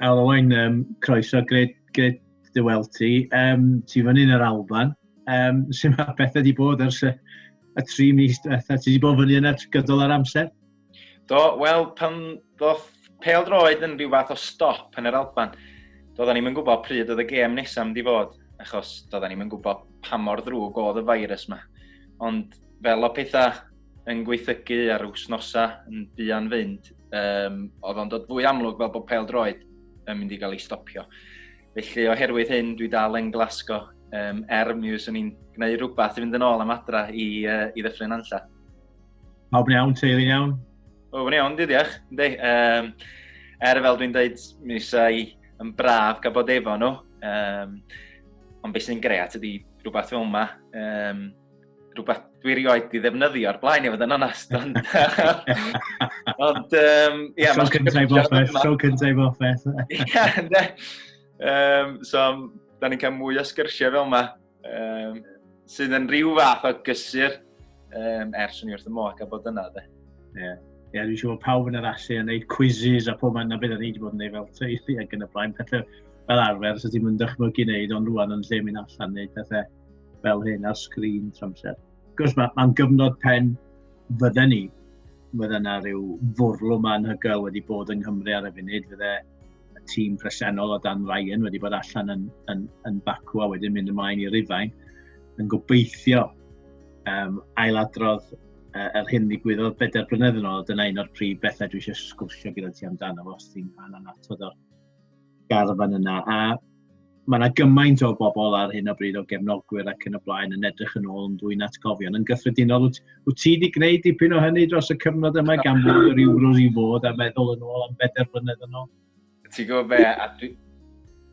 Helo Owain, um, croeso, gred, gred dy weld ti. Um, ti fan hyn yr Alban. Um, sy'n mae beth wedi bod ers y, y tri mis diwetha? Ti wedi bod fyny yna gydol ar amser? Do, wel, pan ddoth pel droed yn rhyw fath o stop yn yr Alban, doedden ni'n gwybod pryd oedd y gêm nesaf mynd i fod, achos doedden ni'n gwybod pa mor ddrwg oedd y virus yma. Ond fel o pethau yn gweithygu ar wsnosau yn buan fynd, um, oedd o'n dod fwy amlwg fel bod pel droed yn mynd i gael ei stopio. Felly oherwydd hyn, dwi dal yn glasgo um, er mi fyswn i'n gwneud rhywbeth i fynd yn ôl am adra i, uh, i ddyffryn anlla. Pawb yn iawn, teulu'n iawn? Pawb yn iawn, diolch. Ynddi, um, er fel dwi'n dweud, mi eisiau yn braf gael bod efo nhw. Um, ond beth sy'n gret ydy rhywbeth fel yma. Um, rhywbeth dwi rioed i ddefnyddio ar blaen i fod yn onast. Ond, ond um, yeah, so cyntaf i boffeth, so cyntaf i boffeth. Ie, ynddi. Um, so, da ni'n cael mwy o sgyrsiau fel yma. Um, sydd yn rhyw fath o gysur um, ers o'n i wrth y moch a bod yna, de. Ie. Yeah. Ie, yeah, dwi'n siŵr pawb yn yr allu yn neud quizzes a pob ma'n na beth o'n i wedi bod yn neud fel teulu ac yn y blaen. Pethau fel arfer, sydd ti'n mynd dychmygu neud, ond rwan yn lle mynd allan neud pethau fel hyn ar sgrin tramser. Gwrs, mae'n ma gyfnod pen fydden ni. Fydde yna rhyw fwrlwm anhygoel wedi bod yng Nghymru ar y funud. Fydde y tîm presennol o dan Ryan wedi bod allan yn, yn, yn bacw a wedyn mynd ymlaen i Rufain yn gobeithio um, ailadrodd uh, yr hyn ddigwyddodd bedair blynedd yn ôl. Dyna un o'r prif bethau dwi eisiau sgwrsio gyda ti amdano fo, os ti'n rhan anatod o'r garfan yna. A Mae yna gymaint o bobl ar hyn o bryd o gefnogwyr ac yn y blaen yn edrych yn ôl yn fwy'n atgofion. Yn gyffredinol, wyt, wyt ti wedi gwneud dipyn o hynny dros y cyfnod yma gan fod yr Euros i fod a meddwl yn ôl am bedair blynedd yn ôl? Ti'n gwybod be, a dwi,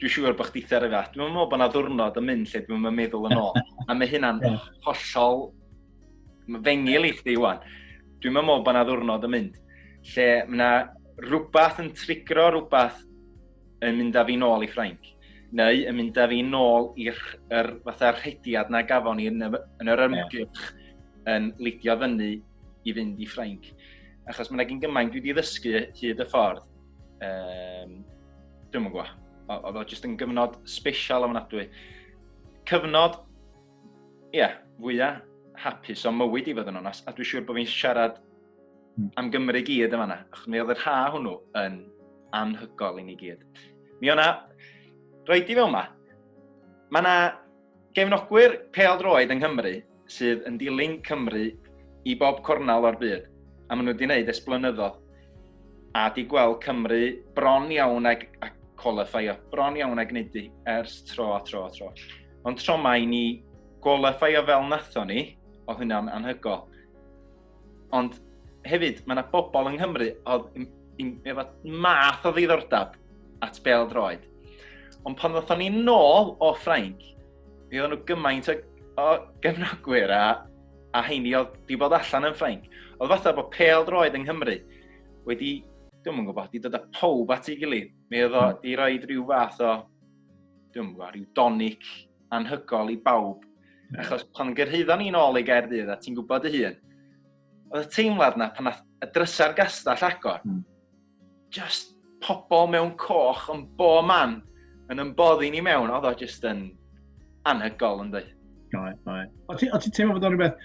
dwi siŵr bod chdi ar y fath. Dwi'n meddwl bod yna ddwrnod yn mynd lle dwi'n meddwl meddwl yn ôl. a mae hynna'n hollol fengil i chdi iwan. Dwi'n meddwl bod yna ddwrnod yn mynd lle mae yna rhywbeth yn trigro rhywbeth yn mynd â fi nôl i Ffrainc, neu yn mynd â fi nôl i'r er, fatha rhediad na gafon ni yn, yn yr ymgyrch yn lidio fyny i fynd i Ffrainc. Achos mae'n egin gymaint dwi wedi ddysgu hyd y ffordd. Um, Dwi'n mwyn gwybod. Oedd o jyst yn gyfnod special am ofnadwy. Cyfnod, ie, yeah, fwyaf hapus o mywyd i fod yn onast, a dwi'n siŵr bod fi'n siarad Hmm. am Gymru gyd yn fanna, achos mi oedd yr ha hwnnw yn anhygol i ni gyd. Mi o'na, roi di fel yma, mae yna gefnogwyr pel droed yng Nghymru sydd yn dilyn Cymru i bob cornel o'r byd, a maen nhw wedi gwneud es blynyddoedd, a di gweld Cymru bron iawn ag, ag qualifio, bron iawn ag wneud di ers tro a tro a tro. Ond tro mae ni qualifio fel natho ni, oedd hynna'n anhygol. Ond hefyd, mae yna bobl yng Nghymru oedd efo math o ddiddordeb at bel droed. Ond pan ddothon ni nôl o Ffrainc, mi oedden nhw gymaint o, o gefnogwyr a, a heini oedd di bod allan yn Ffrainc. Oedd fatha bod pel droed yng Nghymru wedi, dwi'n mwyn gwybod, di dod â pob at ei gilydd. Mi oedd o hmm. di roi rhyw fath o, dwi'n mwyn gwybod, rhyw donic anhygol i bawb. Yeah. Achos pan gyrhaeddo ni'n ôl i Gaerdydd, a ti'n gwybod y hun, oedd y teimlad na pan nath y drysau'r gastell agor, mm. just pobl mewn coch yn bo man yn ymboddi ni mewn, oedd o just yn anhygol yn dweud. Doi, doi. O ti'n teimlo bod o'n rhywbeth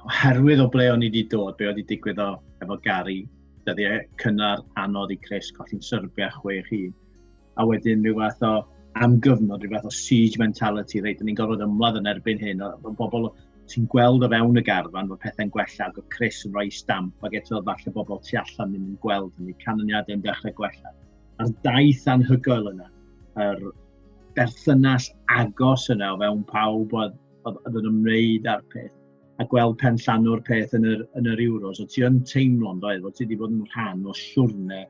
oherwydd o ble o'n i wedi dod, be oedd wedi digwydd o efo Gary, dyddiau cynnar anodd i Chris, colli'n syrbiau chwe chi. a wedyn rhyw fath o am gyfnod, rhyw fath o siege mentality, reit, ni'n gorfod ymladd yn erbyn hyn, o bobl sy'n gweld o fewn y garfan bod pethau'n gwella ac o Chris yn rhoi stamp ac eto falle bobl tu allan ddim yn gweld hynny, canlyniadau yn dechrau gwella. A'r daith anhygoel yna, yr berthynas agos yna o fewn pawb oedd, oedd, oedd yn ymwneud â'r peth a gweld pen llanw'r peth yn yr, yn yr Euros, o ti yn teimlo'n doedd, o ti wedi bod yn rhan o siwrne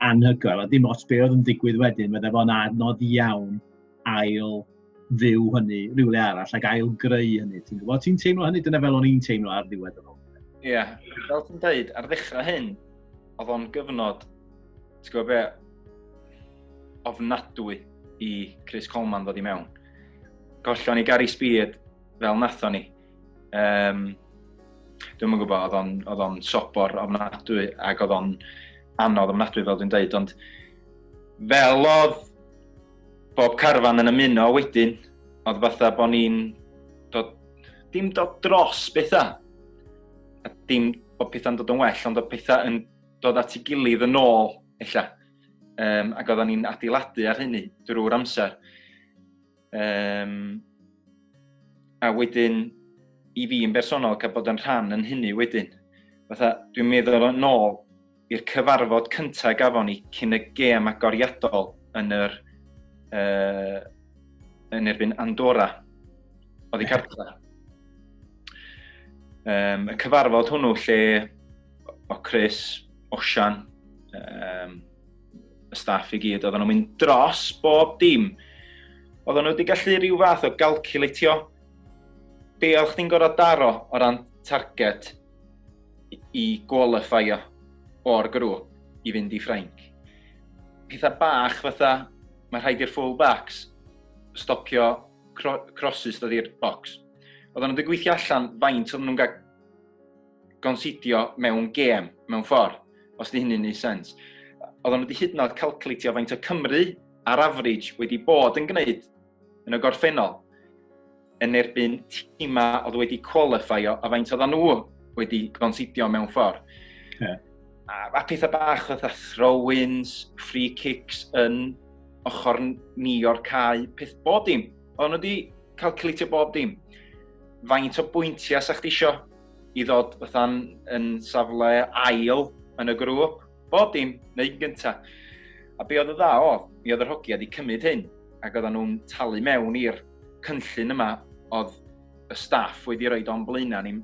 anhygoel, a dim os be oedd yn digwydd wedyn, fydde fo'n adnodd iawn ail fyw hynny rhywle arall, ac ail greu hynny. Ti'n gwybod, ti'n teimlo hynny, dyna fel o'n i'n teimlo ar ddiwedd y rôl. Ie, yeah. fel ti'n dweud, ar ddechrau hyn, oedd o'n gyfnod, ti'n gwybod be, ofnadwy i Chris Coleman ddod i mewn. Gollon ni Gary Speed fel nathon ni. Um, Dwi'n yn gwybod, oedd o'n sobor ofnadwy ac oedd o'n anodd ofnadwy fel dwi'n dweud, ond fel oedd bob carfan yn ymuno wedyn, oedd fatha bod ni'n dod, dim dod dros bethau, a dim bod pethau'n dod yn well, ond oedd pethau yn dod at ei gilydd yn ôl, ella. Um, ac oedden ni'n adeiladu ar hynny drwy'r amser. Um, a wedyn, i fi yn bersonol, cael bod yn rhan yn hynny wedyn. Fatha, dwi'n meddwl yn ôl i'r cyfarfod cyntaf gafon ni cyn y gêm agoriadol yn yr uh, yn erbyn Andorra. Oedd i cartra. Um, y cyfarfod hwnnw lle o Chris, Osian, um, y staff i gyd, oedden nhw'n mynd dros bob dim. Oedden nhw wedi gallu rhyw fath o galculatio be oedd chdi'n gorfod daro o ran target i qualifio o'r grŵp i fynd i Ffrainc. Pethau bach fatha, mae rhaid i'r full backs stopio cro crosses dod i'r box. Oedden nhw wedi gweithio allan faint oedden nhw'n cael gonsidio mewn gêm, mewn ffordd, os di hynny'n neud sens. Oedden nhw wedi hyd yn oed calcleitio faint o Cymru ar average wedi bod yn gwneud yn y gorffennol yn erbyn tîma oedd wedi qualifio a faint oedden nhw wedi gonsidio mewn ffordd. Yeah. A, a pethau bach oedd a throw-ins, free kicks yn ochr ni o'r cae, peth bob dim. Oedden nhw wedi calcleitio bob dim. Faint o bwyntiau sa'ch di isio i ddod fatha'n yn safle ail yn y grŵp, bob dim, neu gynta. A be oedd y dda o, mi oedd yr hogia wedi cymryd hyn, ac oedden nhw'n talu mewn i'r cynllun yma oedd y staff wedi rhoi o'n blaenau ni.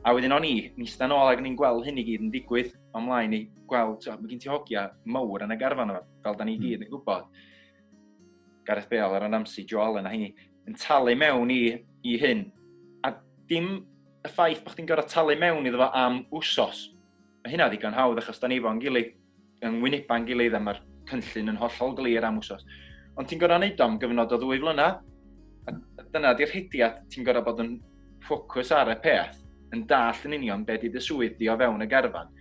A wedyn o'n i, ni stan ôl ac ni'n gweld hyn i gyd yn digwydd o'n mlaen i gweld, so, mae gen ti hogia mawr yn y garfan yma, fel da ni hmm. gyd yn gwybod. Gareth Bale, Aaron Ramsey, Joe Allen a hynny. yn talu mewn i, i hyn. A dim y ffaith bod chdi'n gorfod talu mewn iddo fo am wsos. Mae hynna ddigon hawdd achos da ni fo'n gilydd, yng Ngwyneba'n gilydd a mae'r cynllun yn hollol glir am wsos. Ond ti'n gorfod wneud o'n gyfnod o ddwy flynedd. A dyna di'r hediad, ti'n gorfod bod yn ffocws ar y peth, yn dall yn union beth di dy swydd di o fewn y garfan.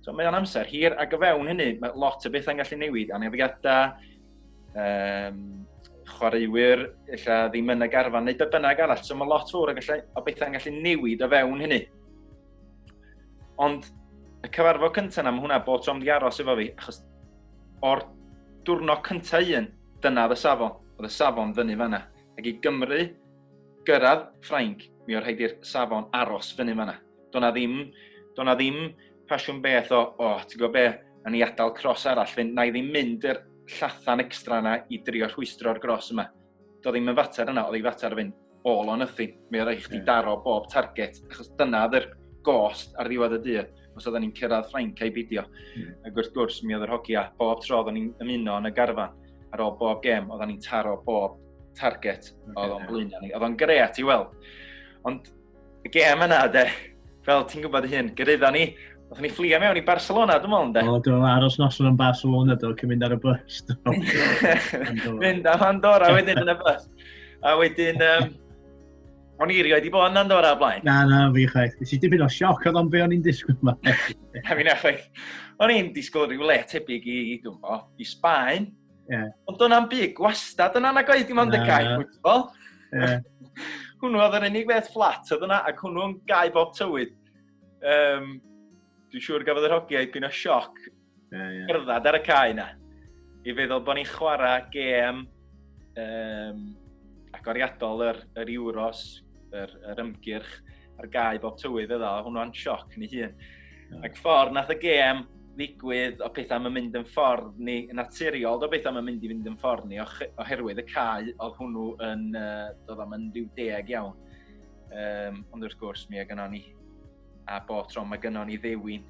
So mae o'n amser hir, ac o fewn hynny, mae lot o bethau'n gallu newid, anafiadau, um, chwaraewyr illa ddim yn y garfan neu be bynnag arall. So mae lot fawr o, gallu, o bethau'n gallu newid o fewn hynny. Ond y cyfarfod cyntaf yna, mae hwnna bod trom di aros efo fi, achos o'r diwrnod cyntaf un, dyna oedd y safon. Oedd y safon fyny fanna. Ac i Gymru gyrraedd Ffrainc, mi o'r rhaid i'r safon aros fyny fanna. Do'n na ddim, do'n na ddim pasiwn beth o, o, ti'n gwybod be, na ni adael cros arall fynd, na i ddim mynd yr llathan extra yna i drio rhwystro'r gros yma. Do ddim yn fater yna, oedd ei fater fynd all or nothing. Mi oedd eich yeah. daro bob target, achos dyna oedd yr gost ar ddiwedd y dydd, os oedden ni'n cyrraedd Ffrainc a'i bidio. Mm. Ac wrth gwrs, mi oedd yr hogi a bob tro oedden ni'n ymuno yn y garfan ar ôl bob gem, oedden ni'n taro bob target okay, oedd o'n yeah. blaenau ni. Oedd o'n gret i weld. Ond y gêm yna, de. Fel ti'n gwybod hyn, gyrraeddo ni. Oedden ni fflio mewn i Barcelona, dwi'n meddwl, de. O, do, aros noson yn Barcelona, do, cyn mynd ar y bus, do. mynd am Andorra wedyn yn y bus. A wedyn, um, o'n i rioed i bod yn Andorra blaen. Na, na, fi chwaith. Nes i dipyn o sioc oedd o'n be o'n i'n disgwyl yma. Na, fi na chwaith. O'n i'n disgwyl rhyw le tebyg i, dwi'n bo, i Sbaen. Yeah. Ond do'n am byd gwastad yn anagau, dim ond y gael football. Yeah. hwnnw oedd yr unig beth fflat oedd yna, ac hwnnw'n gau bob tywydd. Um, Dwi'n siŵr gafodd yr hogiau dipyn o sioc yeah, yeah. gerdded ar y cae yna. I feddwl bod ni'n chwarae gêm um, agoriadol yr, yr Euros, yr, yr ymgyrch, ar gau bob tywydd iddo, a hwnnw'n sioc yn ei hun. Yeah. Ac ffordd nath y gêm ddigwydd o pethau mae'n mynd yn ffordd ni, naturiol o bethau mae'n mynd i fynd yn ffordd ni, oherwydd y cae oedd hwnnw yn, uh, dod am yn rhyw deg iawn. Um, ond wrth gwrs, mi a gyno ni, a bo tro mae gyno ni ddewin,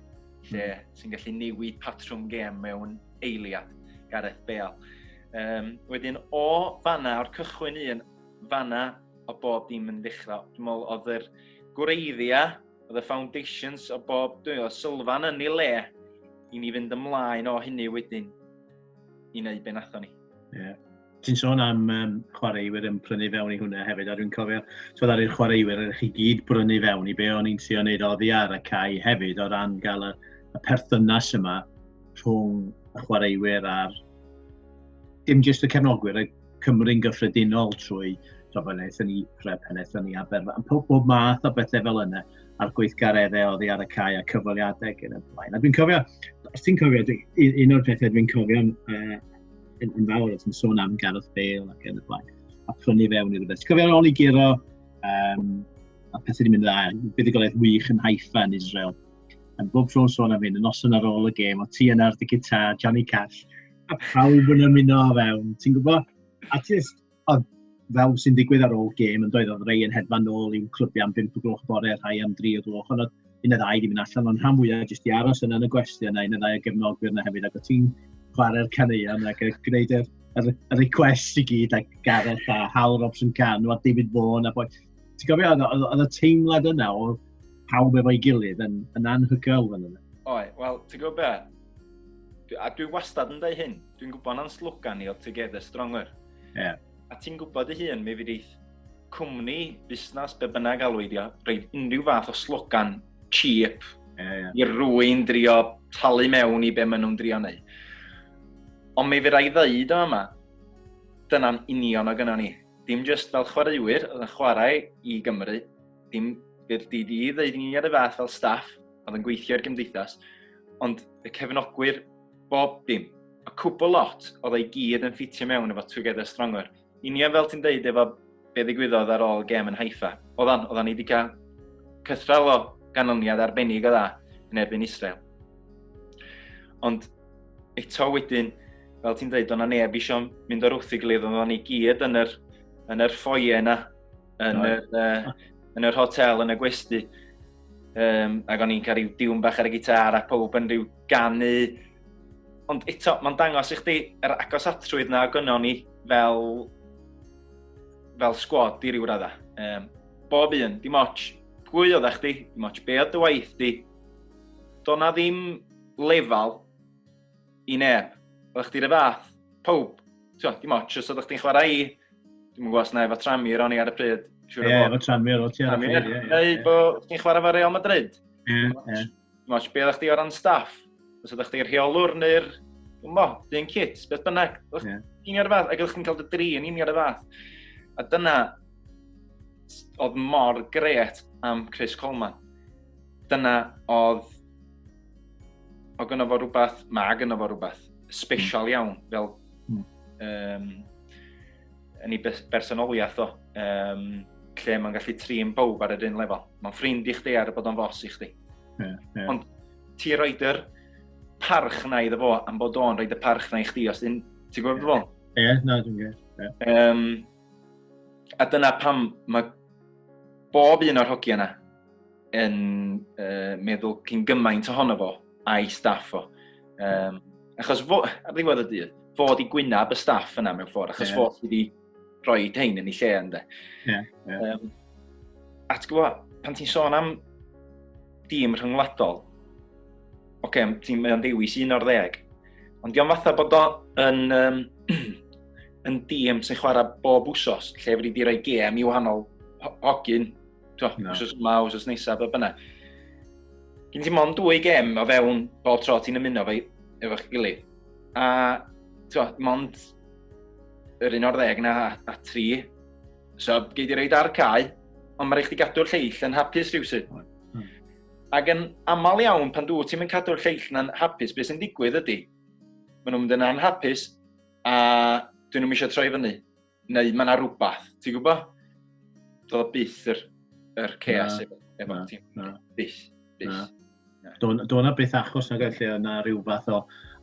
lle mm. sy'n gallu newid patrwm gêm mewn eiliad, Gareth Bale. Um, wedyn, o fanna, o'r cychwyn un, fanna, o bob dim yn ddechrau. Dwi'n meddwl oedd yr gwreiddia, oedd y foundations o bob, dwi'n meddwl, sylfan yn ei le i ni fynd ymlaen o hynny wedyn i wneud be nathon ni. Yeah. Ti'n sôn am um, chwaraewyr yn prynu fewn i hwnna hefyd, a dwi'n cofio, twyd ar i'r chwaraewyr, ydych chi gyd brynu fewn i be o'n i'n trio wneud oddi ar y cae hefyd o ran gael y, y perthynas yma rhwng y chwaraewyr a'r dim jyst y cefnogwyr, y Cymru'n gyffredinol trwy tibod, pan aethon ni Prep, pan aethon ni Aberfan, pob, pob math o bethau fel yna, a'r gweithgareddau oedd hi ar y cae a cyfweliadau ac yn y blaen. A dwi'n cofio, os ti'n cofio, un o'r pethau dwi'n cofio uh, yn, yn fawr, os yn sôn am Gareth Bale ac yn y blaen, a prynu fewn i rhywbeth. Ti'n cofio'r ôl i giro, um, a pethau wedi mynd dda, buddigolaeth wych yn Haifa yn Israel. Yn bob tro'n sôn am hyn, yn noson ar ôl y gêm, o ti yna ar dy gitar, Johnny Cash, a pawb yn ymuno o fewn, ti'n gwybod? A just, oedd fel sy'n digwydd ar ôl gêm yn doedd, oedd rei yn hedfan nôl i'w clybiau am 5 o gloch bore, rhai am 3 o gloch, ond oedd un y ddau wedi mynd allan, ond rhan fwyaf jyst i aros yna yn y gwesti yna, un y ddau o gefnogwyr yna hefyd, ac o ti'n chwarae'r caneuon ac yn gwneud yr, yr, yr request i gyd ac Gareth a Hal Robson Can a David Vaughan a boi. Ti'n gofio, oedd y teimlad yna o pawb efo'i gilydd yn, yn anhygoel fan yna. Oi, wel, ti'n gwybod be? A dwi wastad yn dweud hyn, dwi'n gwybod na'n slogan ni o Together Stronger. Yeah. A ti'n gwybod dy hun, mi fydd eith cwmni, busnes, be bynnag alwydio, rhaid unrhyw fath o slogan cheap yeah, yeah. i rwy'n drio talu mewn i be maen nhw'n drio neu. Ond mi fydd rai ddeud o yma, dyna'n union o gyno ni. Dim just fel chwaraewyr oedd yn chwarae i Gymru, dim bydd di di ddeud ni ar y fath fel staff oedd yn gweithio i'r gymdeithas, Ond fe cefnogwyr bob dim. A cwbl lot oedd ei gyd yn ffitio mewn efo Together Stronger. Union fel ti'n deud efo be ddigwyddodd ar ôl gem yn Haifa. Oeddan, oeddan ni wedi cael cythral o ganlyniad arbennig o dda yn erbyn Israel. Ond eto wedyn, fel ti'n dweud, o'na neb eisiau mynd o'r wrth i gilydd, oeddan ni gyd yn yr, yn yr ffoie yna, yn, yr, uh, yn yr hotel, yn y gwesti. Um, ac o'n i'n cael rhyw diwn bach ar y gitar a pob yn rhyw ganu. Ond eto, mae'n dangos i chdi yr agos atrwydd na gynno ni fel, fel sgwad i ryw radda. Um, bob un, dim ots pwy oedd chdi, dim ots be oedd dy waith di. Do'n na ddim lefel i neb. Oedd chdi rhyw fath, pob, ti'n dim ots os oedd chdi'n chwarae i, dwi'n mwyn gwas na efo Tramir o'n i ar y pryd. Ie, yeah, efo Tramir o'n ti ar y pryd. Ie, ie, ie. bod chdi'n chwarae fo Real Madrid. Ie, ie. Dim ots, be oedd chdi o ran staff? Os oedd chdi'r rheolwr neu'r, dwi'n mo, dyn cit, beth bynnag. Oedd chdi'n i'r fath, ac oedd chdi'n cael dy dri yn i'r fath. A dyna, oedd mor gret am Chris Coleman. Dyna oedd Mae gynno fo rhywbeth, mae gynno fo rhywbeth special hmm. iawn, fel mm. um, yn ei bersonoliaeth o, um, lle mae'n gallu trin bawb ar yr un lefel. Mae'n ffrind i chdi ar y bod o'n fos i chdi. Yeah, yeah. Ond ti roed yr parch na iddo fo am bod o'n roed y parch na i chdi, os ti'n gwybod yeah. beth Ie, yeah, na, dwi'n gwybod. Yeah. Um, a dyna pam mae bob un o'r hogiau yna yn uh, meddwl cyn gymaint ohono fo a'i staff o. Um, achos fo, ar ddiwedd y dydd, fo di gwynab y staff yna mewn ffordd, achos yeah. fo sydd wedi rhoi tein yn ei lle ynddo. Yeah, yeah. Um, a ti'n gwybod, pan ti'n sôn am dîm rhyngwladol, oce, okay, ti'n mynd o'n dewis un o'r ddeg, ond diolch fatha bod o yn, um, yn dîm sy'n chwarae bob wsos, lle wedi di roi gem i wahanol hogyn to, no. os yma, os ys nesaf, be bynnag. Gyn ti mond dwy gem o fewn bob tro ti'n ymuno fe efo'ch gilydd. A, to, mond yr un o'r ddeg na a, a tri. So, gei di reid ar cae, ond mae rhaid i gadw'r lleill yn hapus rhywsyd. Hmm. Ac yn aml iawn, pan dwi ti'n mynd cadw'r lleill na'n hapus, beth sy'n digwydd ydy, maen nhw'n mynd yn anhapus, a dyn nhw'n eisiau troi fyny. Neu mae yna rhywbeth, ti'n gwybod? Doedd o byth yr, yr chaos efo, efo ti. Byth, byth. Doedd yna byth achos na gallu yna rhyw fath o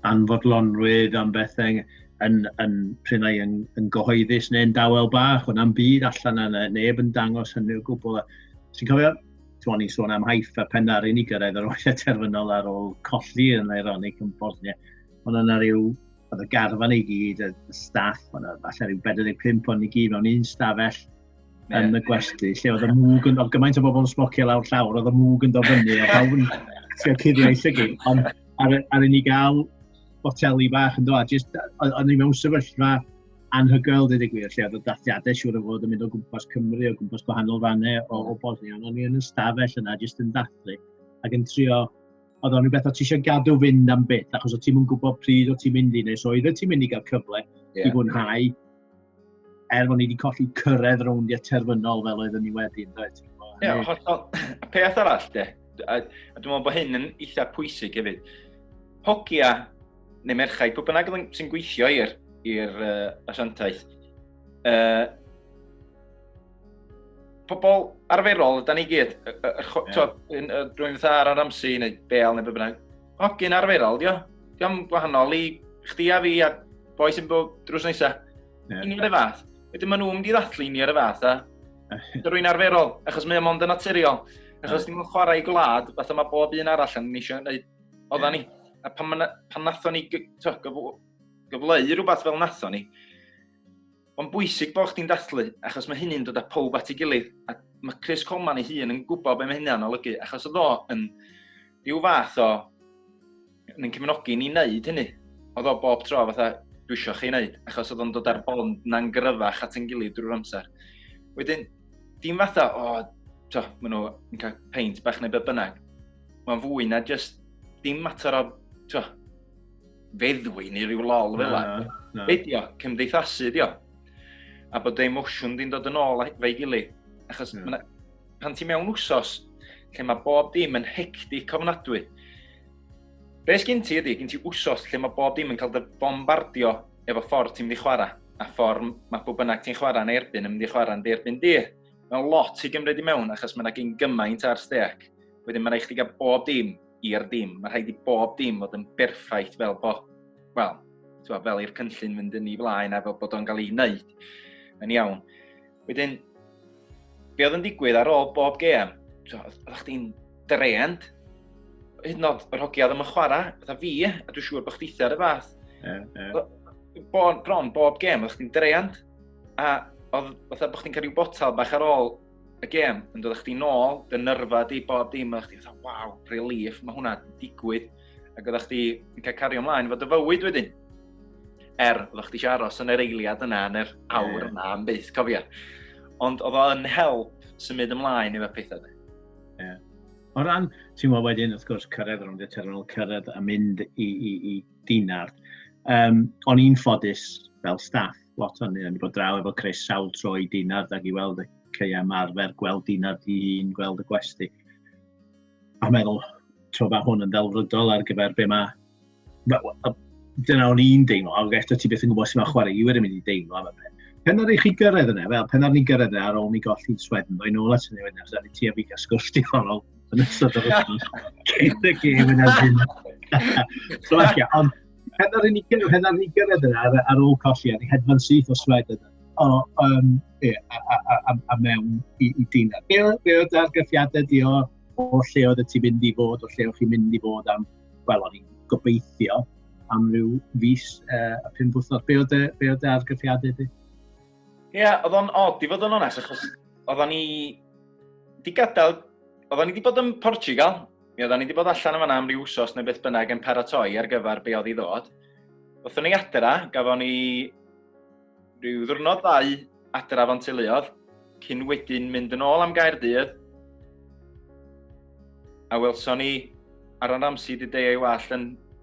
anfodlonrwydd am bethau yn, yn pryn ai yn, yn gyhoeddus neu'n dawel bach, ond am byd allan yna, neb yn dangos hynny o gwbl. Ti'n cofio, ti'n ni'n sôn am haif a pen ar unig gyrraedd yr oes terfynol ar ôl colli yn ironic yn Bosnia, ond yna rhyw oedd y garfan i gyd, y staff, oedd yna falle rhyw 45 o'n i gyd mewn un stafell yeah. yn y gwesti, lle oedd y mwg yn dod, gymaint o bobl yn smocio lawr llawr, oedd y mwg yn dod fyny, a pawb yn trio cuddio ei llygyd, ond ar, ar i gael boteli bach yn dod, jyst, o'n i mewn sefyllfa anhygoel, dweud y gwir, lle oedd y dathiadau siwr o fod yn mynd o gwmpas Cymru, o gwmpas gwahanol fannau o, o Bosnia, ond o'n i yn y stafell yna, jyst yn dathlu, ac yn trio oedd o'n rhywbeth o ti eisiau gadw fynd am byth, achos o ti'n mynd gwybod pryd o ti'n mynd i, neu so oedd ti'n mynd i gael cyfle yeah. i fwynhau, er fod ni wedi colli cyrraedd rowndiau terfynol fel oedden ni wedi, yn dweud. Ie, hollol. A peth arall, de, a, a dwi'n meddwl bod hyn yn eitha pwysig hefyd, hogia neu merchaid, pwy bynnag sy'n gweithio i'r uh, asiantaeth, uh, pobl arferol, da ni gyd, rwy'n fatha ar yr amsi neu bel neu bynnag, hogyn arferol, dio, dio'n gwahanol i chdi a fi a boi sy'n bod drws nesaf. Yeah. Union y fath. Wedyn maen nhw'n mynd i ddathlu union y fath a rwy'n arferol, achos mae o'n mond yn naturiol. Achos ni'n chwarae i gwlad, fatha mae bob un arall yn eisiau gwneud oedda ni. A pan, pan nathon ni gyfleu rhywbeth fel nathon ni, Mae'n bwysig bod chdi'n dathlu, achos mae hynny'n dod â pawb at ei gilydd, a mae Chris Coleman ei hun yn gwybod beth mae hynny'n olygu, achos oedd o yn rhyw fath o yn ein cefnogi ni wneud hynny. Oedd o bob tro fatha, dwi eisiau chi wneud, achos oedd o'n dod ar bond na'n gryfach at ein gilydd drwy'r amser. Wedyn, dim fatha, o, oh, to, maen nhw'n cael peint bach neu beth bynnag. Mae'n fwy na just dim mater o, to, feddwi neu rhyw lol fel la. Be di o? Cymdeithasu di o. A bod dy emosiwn di'n dod yn ôl fe'i gilydd. Achos yeah. pan ti mewn wsos, lle mae bob dim yn hectic ofnadwy. Be sgyn ti ydy, gyn ti wsos lle mae bob dim yn cael dy bombardio efo ffordd ti'n mynd i chwarae, a ffordd mae bob bynnag ti'n chwarae yn erbyn yn mynd i chwarae yn erbyn di. Mae'n lot i gymryd i mewn, achos mae'n yna gyn gymaint ar steg. Wedyn mae'n rhaid chdi gael bob dim i'r dim. Mae'n rhaid i bob dim fod yn berffaith fel bo, wel, twa, fel i'r cynllun fynd yn ei flaen a fel bod o'n cael ei wneud yn iawn. Wedyn, be oedd yn digwydd ar ôl bob gem, oedd chdi'n drend, hyd yn oed yr hogia ddim yn chwarae, fatha fi, a dwi'n siŵr bod chdi ar y fath. Yeah, yeah. Bon, bron, bob gem, oedd chdi'n drend, a oedd fatha bod chdi'n cael rhyw botal bach ar ôl y gêm yn dod â chdi nôl, dy nyrfa di, bob dim, a chdi fatha, waw, relief, mae hwnna yn digwydd. Ac oeddech chdi yn cael cario ymlaen fod y fywyd wedyn. Er, oeddech chdi eisiau aros yn yr eiliad yna, yn yr awr yeah. yna, am byth, cofio. Ond oedd o'n help symud ymlaen i fe pethau. Yeah. O ran, ti'n gwybod wedyn, wrth gwrs, cyrraedd rhwng y terminal, cyrraedd a mynd i, i, i dinard. Um, o'n i'n ffodus fel staff lot o'n ni bod draw efo Chris sawl tro i dinad ac i weld y ceia marfer, gweld dinad i un, gweld y gwesti. A meddwl, tro mae hwn yn ddelfrydol ar gyfer be mae... Dyna o'n i'n deimlo, ac eto ti beth yn gwybod sy'n mae chwarae i wedi mynd i deimlo am y peth. Pen ar i chi gyrraedd yna, fel pen ar ni gyrraedd yna ar ôl ni golli swedyn, dwi'n ôl at hynny wedyn, os ni ti a fi gael sgwrs digonol yn ystod o'r ystod. Cyn y gêm yna ddim. Ond Heb ar ni gyrraedd, heb ar ni gyrraedd yna ar, ar ôl colli, ar ei hedfan syth o sled yna. O, um, ie, a, a, a, a, a mewn i, i dîna. Be, be oedd argyffiadau di o, o lle oedd y ti mynd i fod, o lle oedd chi'n mynd i fod am, wel, o'n i'n gobeithio am ryw fus uh, a pum bwthnos. Be oedd y argyffiadau di? Ie, yeah, oedd o'n od i fod yn onest, achos oedd o'n i... Di gadael... Oedd o'n i wedi bod yn Portugal, Mi oeddan ni wedi bod allan yn fanna am ryw wsos neu beth bynnag yn paratoi ar gyfer be oedd i ddod. Wrthyn ni adra, gafon ni rhyw ddwrnod ddau adra fo'n teuluodd, cyn wedyn mynd yn ôl am gair dydd. A welson ni Aran Ramsey di deio ei wallt yn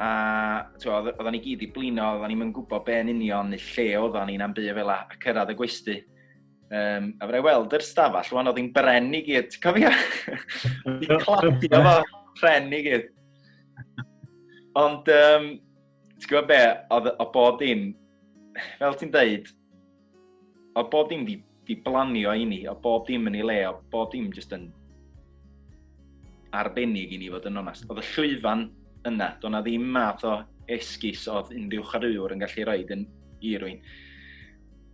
a oedd o'n i gyd i blino, oedd o'n i'n gwybod be yn union neu lle oedd o'n i'n am byd fel a, a cyrraedd y gwesti. Um, a fydda i weld yr stafell, rwan oedd hi'n bren i gyd, ti'n cofio? Fi'n cladio fo, bren i gyd. Ond, um, ti'n gwybod be, oedd o bob dim, fel ti'n dweud, Oedd bob dim di, di blanio i ni, oedd bob dim yn ei le, oedd bob dim jyst yn arbennig i ni fod yn onast. Oedd y llwyfan yna, doedd na ddim math o esgus oedd unrhyw chariwr yn gallu rhoi yn i rwy'n.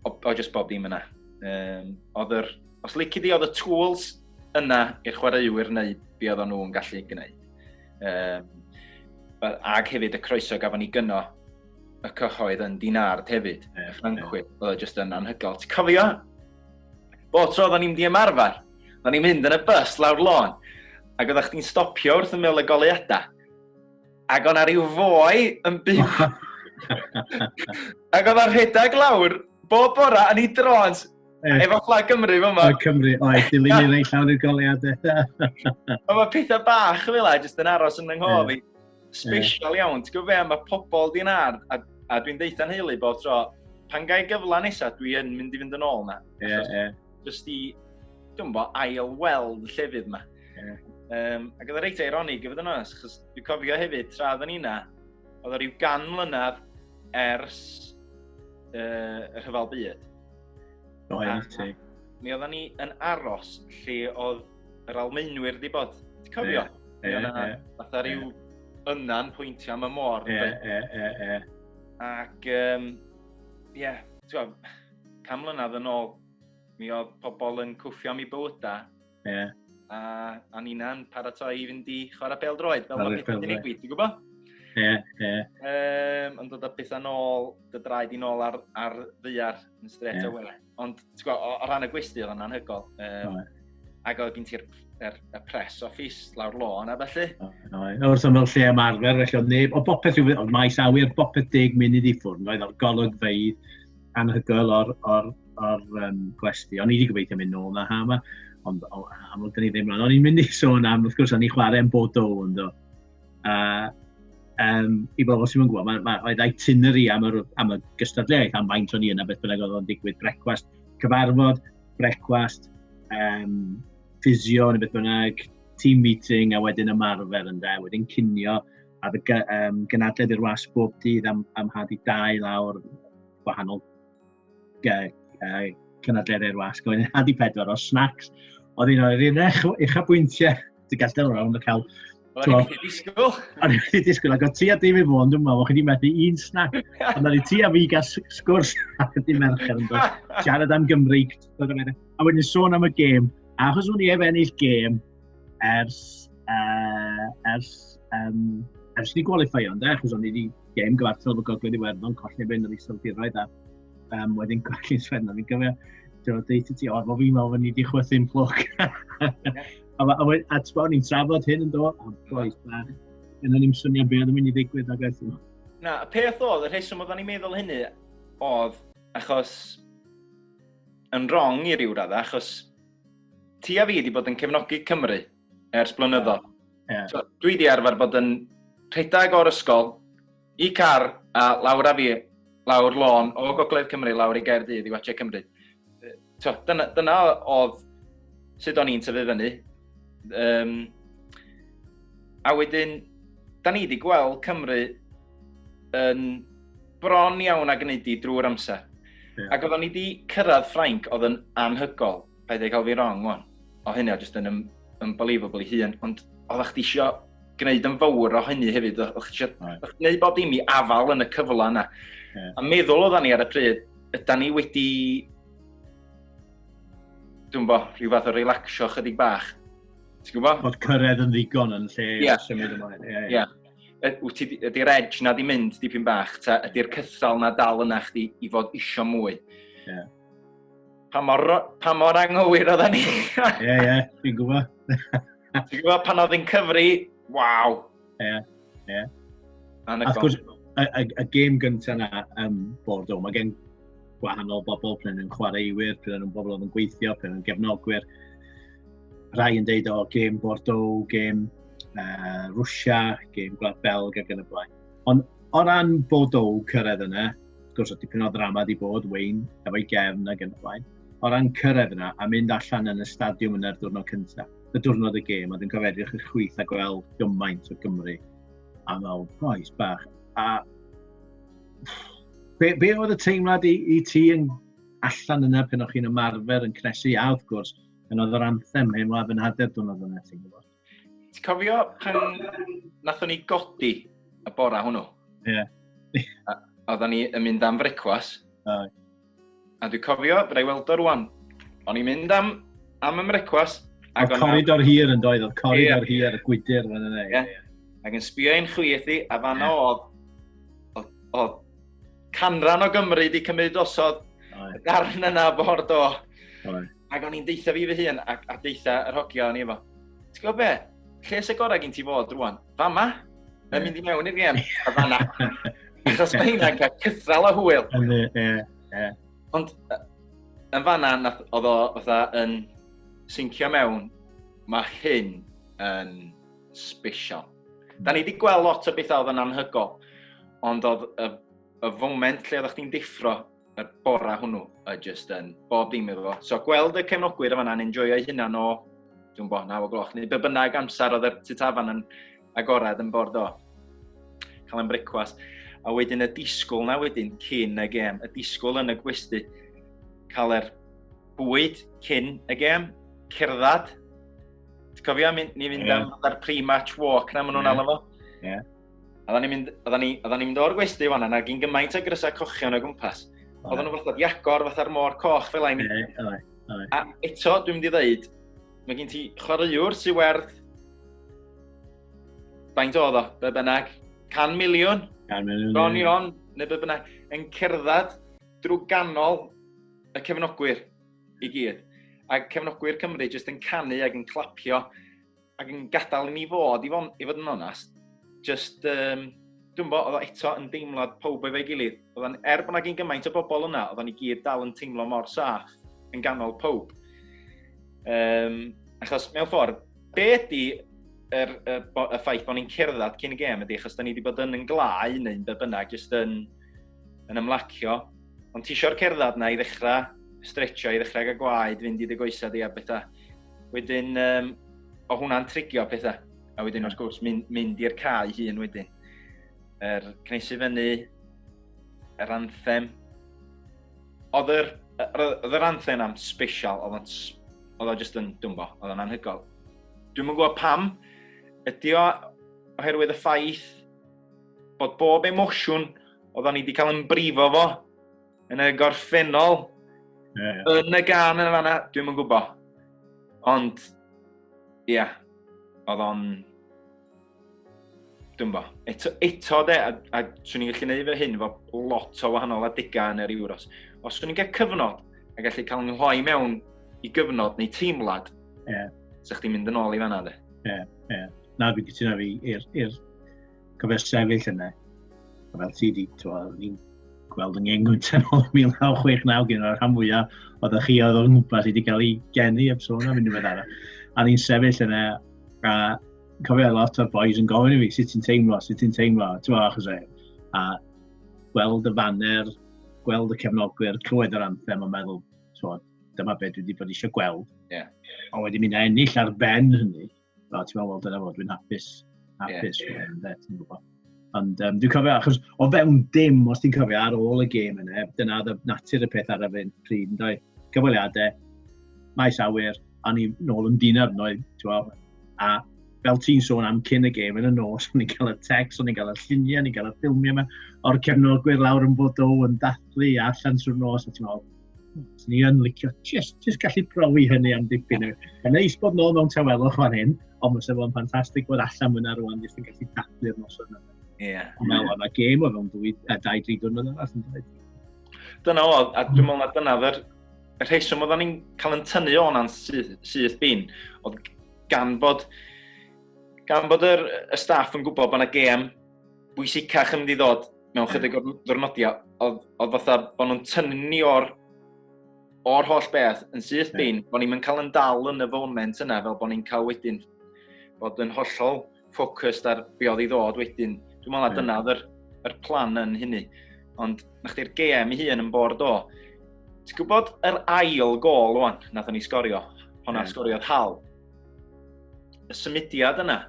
O, o jyst bob dim yna. Um, oedd yr, os lici di, oedd y tools yna i'r chwaraewyr neu be oedd nhw'n gallu gwneud. Um, ac hefyd y croeso gafon ni gyno y cyhoedd yn dinard hefyd. Yeah, Ffrancwyr, yeah. oedd e jyst yn anhygoel. Ti'n cofio? Bo tro oedden ni'n di ymarfer, oedden ni'n mynd yn y bus lawr lôn, ac oedden chdi'n stopio wrth y mil y goleuadau. Ac o'na rhyw fwy yn byw. ac oedd o'n rhedeg lawr, bob bora, yn ei drons, eh. efo fflag Cymru fy yma. Cymru, oed, dilyn i'r ei llawn i'r goleuadau. Oedd mae pethau bach fel e, jyst yn aros yn ynghof i. Special iawn, ti'n gwybod fe, mae pobl di'n ar, a, a dwi'n deitha'n heili bod tro, pan gael gyfle nesaf, dwi yn mynd i fynd yn ôl na. Ie, yeah, ie. Yeah. Just i, dwi'n bo, ail weld y llefydd yma. Yeah. Um, ac oedd y reit eironig, i fod yn oes, chos dwi'n cofio hefyd, tra oedden ni na, oedd o rhyw gan mlynedd ers uh, y rhyfel byd. Roedd, ti. Mi oedden ni yn aros lle oedd yr Almaenwyr di bod. Ti'n cofio? Ie, ie, ie. Fatha rhyw yna'n pwyntio am y môr. Ie, ie, ie, ie. Ac, um, ie, yeah, ti'n cam mlynedd yn ôl, mi oedd pobl yn cwffio am i bywydau. Ie. Yeah. A, a Nina'n paratoi i fynd i chwarae pel droed, fel mae beth yn digwydd, ti'n gwybod? Ie, yeah, ie. Yeah. Um, yn dod â beth yn ôl, dy draed i'n ôl ar, ar ddiar yn stret yeah. away. Ond, ti'n gwybod, o, o ran y gwesti, oedd o'n anhygol. Um, no. Ac oedd gen ti'r er, er press office lawr lôn a felly. No, no. no wrth ymwyl lle am arfer, felly oedd neb, o bopeth yw, oedd maes awyr bopeth deg munud i ffwrn, oedd o'r golygfeidd anhygol o'r, or, or, um, gwesti. O'n i wedi gobeithio mynd nôl na ha yma, ond amlwg dyn ni ddim rhan. O'n i'n mynd i sôn am, wrth gwrs, o'n i chwarae yn bod o, ynddo. A um, i bobl sy'n gwybod, mae, mae, oedd itinerary am, yr, am y gystadleuaeth, am faint o'n i yna, beth bynnag oedd o'n digwydd, brecwast, cyfarfod, brecwast, um, ffisio neu beth bynnag, team meeting a wedyn ymarfer yn da, wedyn cinio a fy um, gynadledd i'r wasg bob dydd am, am had i dau lawr gwahanol cynadleddau'r wasg. Oedd yn hadi pedwar o snacks. Oedd un o'r un eich bwyntiau. Ti'n gallu delwr o'n cael... O'n i'n wedi disgwyl. O'n i'n wedi disgwyl, ac o ti a dim i fod yn dyma, o'n chi wedi methu un snack. Ond o'n i ti a fi gael sgwrs ac ydy mercher yn dod. Siarad am Gymreig. A wedyn sôn am y gêm. Achos o'n i ef ennill gêm, ers, uh, ers, um, ers ni gwalifio ynddo, achos o'n i wedi gêm gyfartal fy gogledd i werddon, colli fe yn yr iseldiroedd a um, wedyn colli sferno. Fi'n gyfio, ti'n dweud ti, o, fo fi'n meddwl fod ni wedi chwythu'n fflwc. a, a, a, a ti'n ni'n trafod hyn yn do, a boes, a yna ni'n swnio beth yn mynd i ddigwydd ag eithaf. Na, y peth oedd, y rheswm oedden ni'n meddwl hynny oedd achos yn wrong i ryw raddau, achos Ti a fi wedi bod yn cefnogi Cymru ers blynyddoedd. Yeah. Yeah. So, dwi wedi arfer bod yn rhedeg o'r ysgol i car a lawr a fi, lawr lôn o Gogledd Cymru, lawr i Gaerdydd i watchau Cymru. So, dyna, dyna oedd sut o'n i'n tyfu fyny. Um, a wedyn, da ni wedi gweld Cymru yn bron iawn a gwneud i drwy'r amser. Yeah. Ac oeddwn i wedi cyrraedd Ffrainc oedd yn anhygol, paid ei cael fi wrong, o'n. O hynny, o jyst yn un, unbelievable i hun, ond oeddech chdi eisiau gwneud yn fawr o hynny hefyd, oeddech chdi eisiau gwneud bod imi afal yn y cyfle yna. Yeah. A meddwl oedden ni ar y pryd, yda ni wedi, dwi'n bo, rhyw fath o relaxio chydig bach. Ti'n gwybod? Bod cyrraedd yn ddigon yn lle yeah. symud ymlaen. Ie. Yeah, yeah. yeah. ydy'r edge na di mynd dipyn bach, ta ydy'r cythal na dal yna chdi i fod isio mwy. Yeah. Pa mor, pa mor anghywir oedda ni? Ie, ie, yeah, fi'n gwybod. Ti'n gwybod pan oedd yn cyfri, waw. Ie, yeah, ie. Yeah. Wrth gwrs, y, y, y gêm gyntaf na um, bod o, mae gen gwahanol bobl, pryn yn chwaraewyr, pryn yn bobl oedd yn gweithio, pryn yn gefnogwyr. Rhai yn deud o gêm Bordeaux, gêm uh, Rwysia, gêm Gwlad Belg ac yn y blaen. Ond o ran Bordeaux cyrraedd yna, wrth gwrs o dipyn o ddrama di bod, Wayne, efo'i gefn ac yn y blaen. O ran cyrraedd yna a mynd allan yn y stadiwm yna'r diwrnod cyntaf, y diwrnod y gêm, a dwi'n cofio edrych y chwyth a gweld gymaint o Gymru a fel boes bach. A be, be oedd y teimlad i, i ti yn allan yna pen o'ch chi'n ymarfer yn cnesu a wrth gwrs Yn oedd yr anthem hyn, waf yn hader dwi'n oedd yna, ti'n gwybod. Ti'n cofio pan nathon ni godi y bora hwnnw? Ie. Yeah. Oedden ni yn mynd am frecwas. Oh. A dwi'n cofio, byddai weld o rwan. O'n i'n mynd am, am y frecwas. Oedd coridor hir yn doedd, oedd coridor yeah. hir y gwydr fan yna. Yeah. Yeah. Ac yn sbio i'n chwith i, a fan yeah. oedd, oedd, oedd canran o Gymru wedi cymryd osod y darn yna ford o. Right. Ac o'n i'n deitha fi fy hun, a, a deitha yr hogia o'n i efo. Ti'n gwybod be? Lle sy'n gorau gen ti fod rwan? Fa ma? Mae'n mynd i mewn i'r gem, a fanna. Achos mae hynna'n cael cythral o hwyl. Ond yn fanna, oedd o fatha yn syncio mewn, mae hyn yn special. Da ni wedi gweld lot o bethau oedd yn anhygol, ond oedd y, y foment lle oeddech chdi'n deffro y bora hwnnw, y just yn bob dim efo. So gweld y cefnogwyr yma na'n enjoyo'i hunan o, dwi'n bod, naw o gloch, neu be bynnag amser oedd y tutafan yn agored yn bord o. Cael yn brecwast. A wedyn y disgwyl na wedyn cyn y gêm, y disgwyl yn y gwesty. Cael yr bwyd cyn y gêm, cerdded. Ti'n cofio, ni fynd yeah. am ar pre-match walk na, maen nhw'n yeah. alw fo. Yeah. Oedden ni'n mynd, oedden ni, oedden ni'n mynd o'r gwesti fan yna, gyn gymaint o grysau cochion o gwmpas. Oedden nhw'n fath iacor, fath ar môr coch fel ein. A eto, dwi'n mynd i ddeud, mae gen ti chwaraewr sy'n werth... Faint oedd o, be bynnag? 100 miliwn? 100 miliwn. Ron Ion, neu be bynnag, yn cerdded drwy ganol y cefnogwyr i gyd. A cefnogwyr Cymru jyst yn canu ac yn clapio ac yn gadael i ni fod, i fod, i fod yn onast, just, um, dwi'n bod, oedd o eto yn deimlad pob efo'i gilydd. Oedd o'n, er bod yna gyn gymaint o bobl yna, oedd o'n i gyd dal yn teimlo mor saff yn ganol pob. Um, achos, mewn ffordd, be ydy yr, y, y ffaith bod ni'n cerdded cyn y gêm ydy, achos da ni wedi bod yn yn glau neu'n be bynnag, jyst yn, yn ymlacio. Ond ti eisiau'r cerdded na i ddechrau stretcho, i ddechrau gael gwaed, fynd i dy goesau di a bethau. Wedyn, um, o hwnna'n trigio pethau. A wedyn, wrth gwrs, mynd, mynd i'r cae hun wedyn. Yr er, cnesu fyny, yr anthem. Oedd yr, oedd yr anthem am special, oedd o'n, oedd o'n just yn dwmbo, oedd o'n anhygol. Dwi'n mwyn gwybod pam, ydy o oherwydd y ffaith bod bob emosiwn oedd o'n i wedi cael yn brifo fo, yn y gorffennol, yeah. yn y gan yn y fanna, dwi'n yn gwybod. Ond, ia, yeah, oedd o'n... Dwi'n bo. Eto, eto de, a, a swn i'n gallu gwneud fy hyn fo lot o wahanol adegau yn yr Euros. Os swn i'n cael cyfnod, a gallu cael yng nghloi mewn i gyfnod neu teimlad, yeah. sa'ch ti'n mynd yn ôl i fanna de. Ie, yeah, ie. Yeah. Na, fi gytuno fi i'r cofio sefyll yna. Fel ti di, ni'n gweld yn ngeng yn tynol 1969 gen o'r rhan fwyaf oedd y chi oedd o'n gwmpas wedi cael ei geni eb sôn am unrhyw beth arall. A ni'n sefyll yna a cofio lot o'r boys yn gofyn i fi sut ti'n teimlo, sut ti'n teimlo, ti'n fawr achos e. A gweld y faner, gweld y cefnogwyr, clywed yr anthem a meddwl, ti'n dyma beth dwi wedi bod eisiau gweld. Yeah. Ond wedyn mynd a ennill ar ben hynny, O, ti'n meddwl, dyna fod, dwi'n hapus. Hapus, yeah. yeah. Ynde, ti'n gwybod. Ond um, dwi'n cofio, achos o fewn dim, os ti'n cofio ar ôl y gêm yna, dyna oedd natur y peth ar y fe'n pryd, yn dweud, cyfweliadau, maes awyr, a ni nôl yn dinar, no, a fel ti'n sôn am cyn y gêm yn y nos, o'n i'n cael y text, o'n i'n cael y lluniau, o'n i'n cael y ffilmiau yma, o'r cefnogwyr lawr yn bod o yn dathlu allan trwy'r nos, a ti'n meddwl, Swn i yn licio just, just gallu profi hynny am dipyn. Yn neis bod nôl mewn tawelwch fan hyn, ond mae'n sefyll yn ffantastig bod allan mwyn ar rwan, jyst yn gallu dathlu'r noson yna. Ie. Yeah. Mae yna gêm o fewn dwy, a dau, dri diwrnod arall yn dweud. Dyna o, a dwi'n meddwl na dyna fer, y rheswm oedden ni'n cael yn tynnu o'n an syth, syth bin, oedd gan bod, gan bod yr, y staff yn gwybod bod yna gêm bwysicach yn mynd i ddod mewn chydig o'r ddwrnodiau, oedd, oedd fatha bod nhw'n tynnu ni o'r, or holl beth yn syth yeah. bin, bod ni'n mynd cael yn dal yn y foment yna, fel bod ni'n cael wedyn bod yn hollol ffocust ar be oedd i ddod wedyn. Dwi'n meddwl na yeah. dyna oedd yr, yr plan yn hynny. Ond na chdi'r GM i hun yn bord o. Ti'n gwybod yr ail gol o'n, nath ni sgorio, hwnna yeah. sgoriodd hal. Y symudiad yna,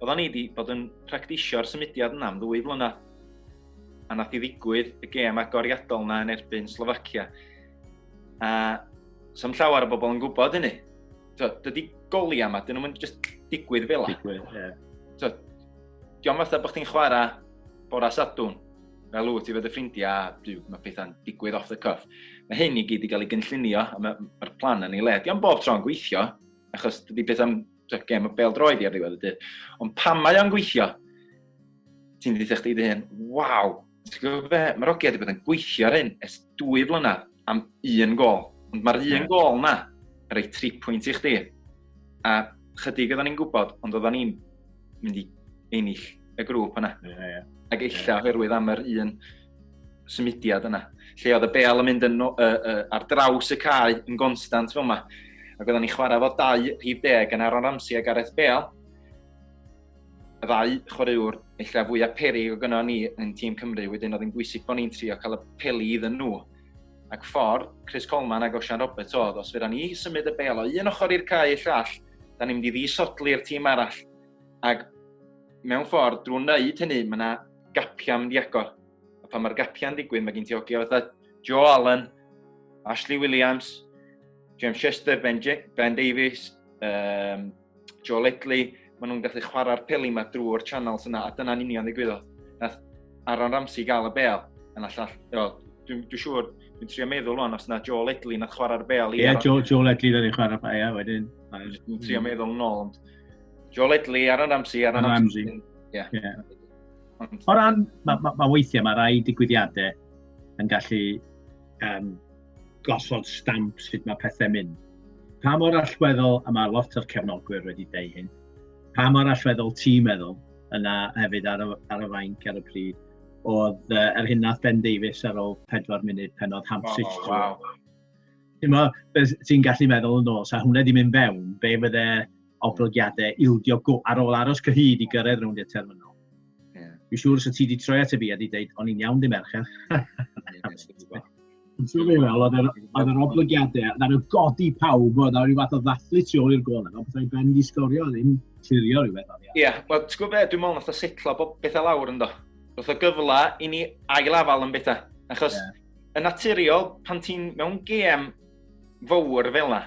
Oeddan ni wedi bod yn practisio'r symudiad yna am ddwy flynedd. A nath i ddigwydd y gêm agoriadol yna yn erbyn Slovacia. A sam llawer o bobl yn gwybod hynny. So, dydy goliau yma, dyn nhw'n just digwydd fel yna. Digwydd, ie. Yeah. So, diolch fatha bod chdi'n chwarae bora sadwn fel wyt ti fod y ffrindiau, a dyw, mae pethau'n digwydd off the cuff. Mae hyn i gyd i gael ei gynllunio, a mae'r ma plan yn ei le. Diolch bob tro'n gweithio, achos dydy beth am Dwi'n gem o bel droed i ar ddiwedd y dydd. Ond pan mae o'n gweithio, ti'n dweud chdi dy hyn, waw, ti'n gwybod be, mae'r ogiau wedi bod yn gweithio ar hyn ers dwy flynedd am un gol. Ond mae'r un gol na, yn rhoi tri pwynt i chdi. A chydig oedden ni'n gwybod, ond oedden ni'n mynd i ennill y grŵp yna. Yeah, yeah. Ac eilla oherwydd am yr un symudiad yna, lle oedd y bel yn mynd yn, uh, uh, ar draws y cae yn gonstant fel yma. Ac oedden ni chwarae fod dau rhif deg yn Aaron Ramsey a Gareth Bale. Y ddau chwaraewr eich fwyaf peri o gyno ni yn tîm Cymru, wedyn oedd yn bwysig bod ni'n trio cael y peli iddyn nhw. Ac ffordd Chris Coleman ac Osian Roberts oedd, os fydda ni symud y bel o un ochr i'r cae i'r llall, da ni'n mynd i ddisodli'r tîm arall. Ac mewn ffordd, drwy wneud hynny, mae yna gapiau'n mynd i agor. A pan mae'r gapiau'n digwydd, mae gen ti hogiau fatha Joe Allen, Ashley Williams, James Chester, Ben, J ben Davies, um, Joe Ledley, maen nhw'n gallu chwarae'r peli yma drwy'r channels yna, a dyna'n union ddigwyddodd. Nath Aaron Ramsey gael y bel, yn allall, dwi'n dwi siŵr, dwi'n trio meddwl rwan os yna Joe Ledley nath chwarae'r bel i... Ie, yeah, Joe, Joe Ledley nath chwarae'r bel, ie, wedyn. Dwi'n trio meddwl yn ôl, ond Joe Ledley, Aaron Ramsey, Aaron Ramsey. Ie. Yeah. Yeah. O ran, mae ma, ma weithiau, mae rai digwyddiadau yn gallu um, gosod stamp sut mae pethau mynd. Pa mor allweddol, a mae lot o'r cefnogwyr wedi dweud hyn, pa mor allweddol ti'n meddwl yna hefyd ar y, ar y fainc ar y pryd, oedd uh, yr hyn nath Ben Davies ar ôl 4 munud pen oedd Hamsich. Oh, wow. Ti'n mo, ti'n gallu meddwl yn ôl, sa hwnna di mynd fewn, be fydde oblygiadau ildio go ar ôl aros cyhyd i gyrraedd rownd i'r terminol. Yeah. Fi'n siŵr os y ti di troi at y fi a di dweud, o'n i'n iawn di merched. Ti'n siŵr beth fel, oedd yr oblygiadau, na'n nhw godi pawb, oedd rhyw fath o ddathlu tu ôl i'r gol, ond bethau ben di sgorio, ddim clirio rhywbeth o'n i. Ie, wel, ti'n gwybod beth, dwi'n meddwl nath o setlo bethau lawr ynddo. Roedd o gyfle i ni ail afal yn bethau, achos yeah Yn naturiol, pan ti'n mewn gêm fawr fel yna,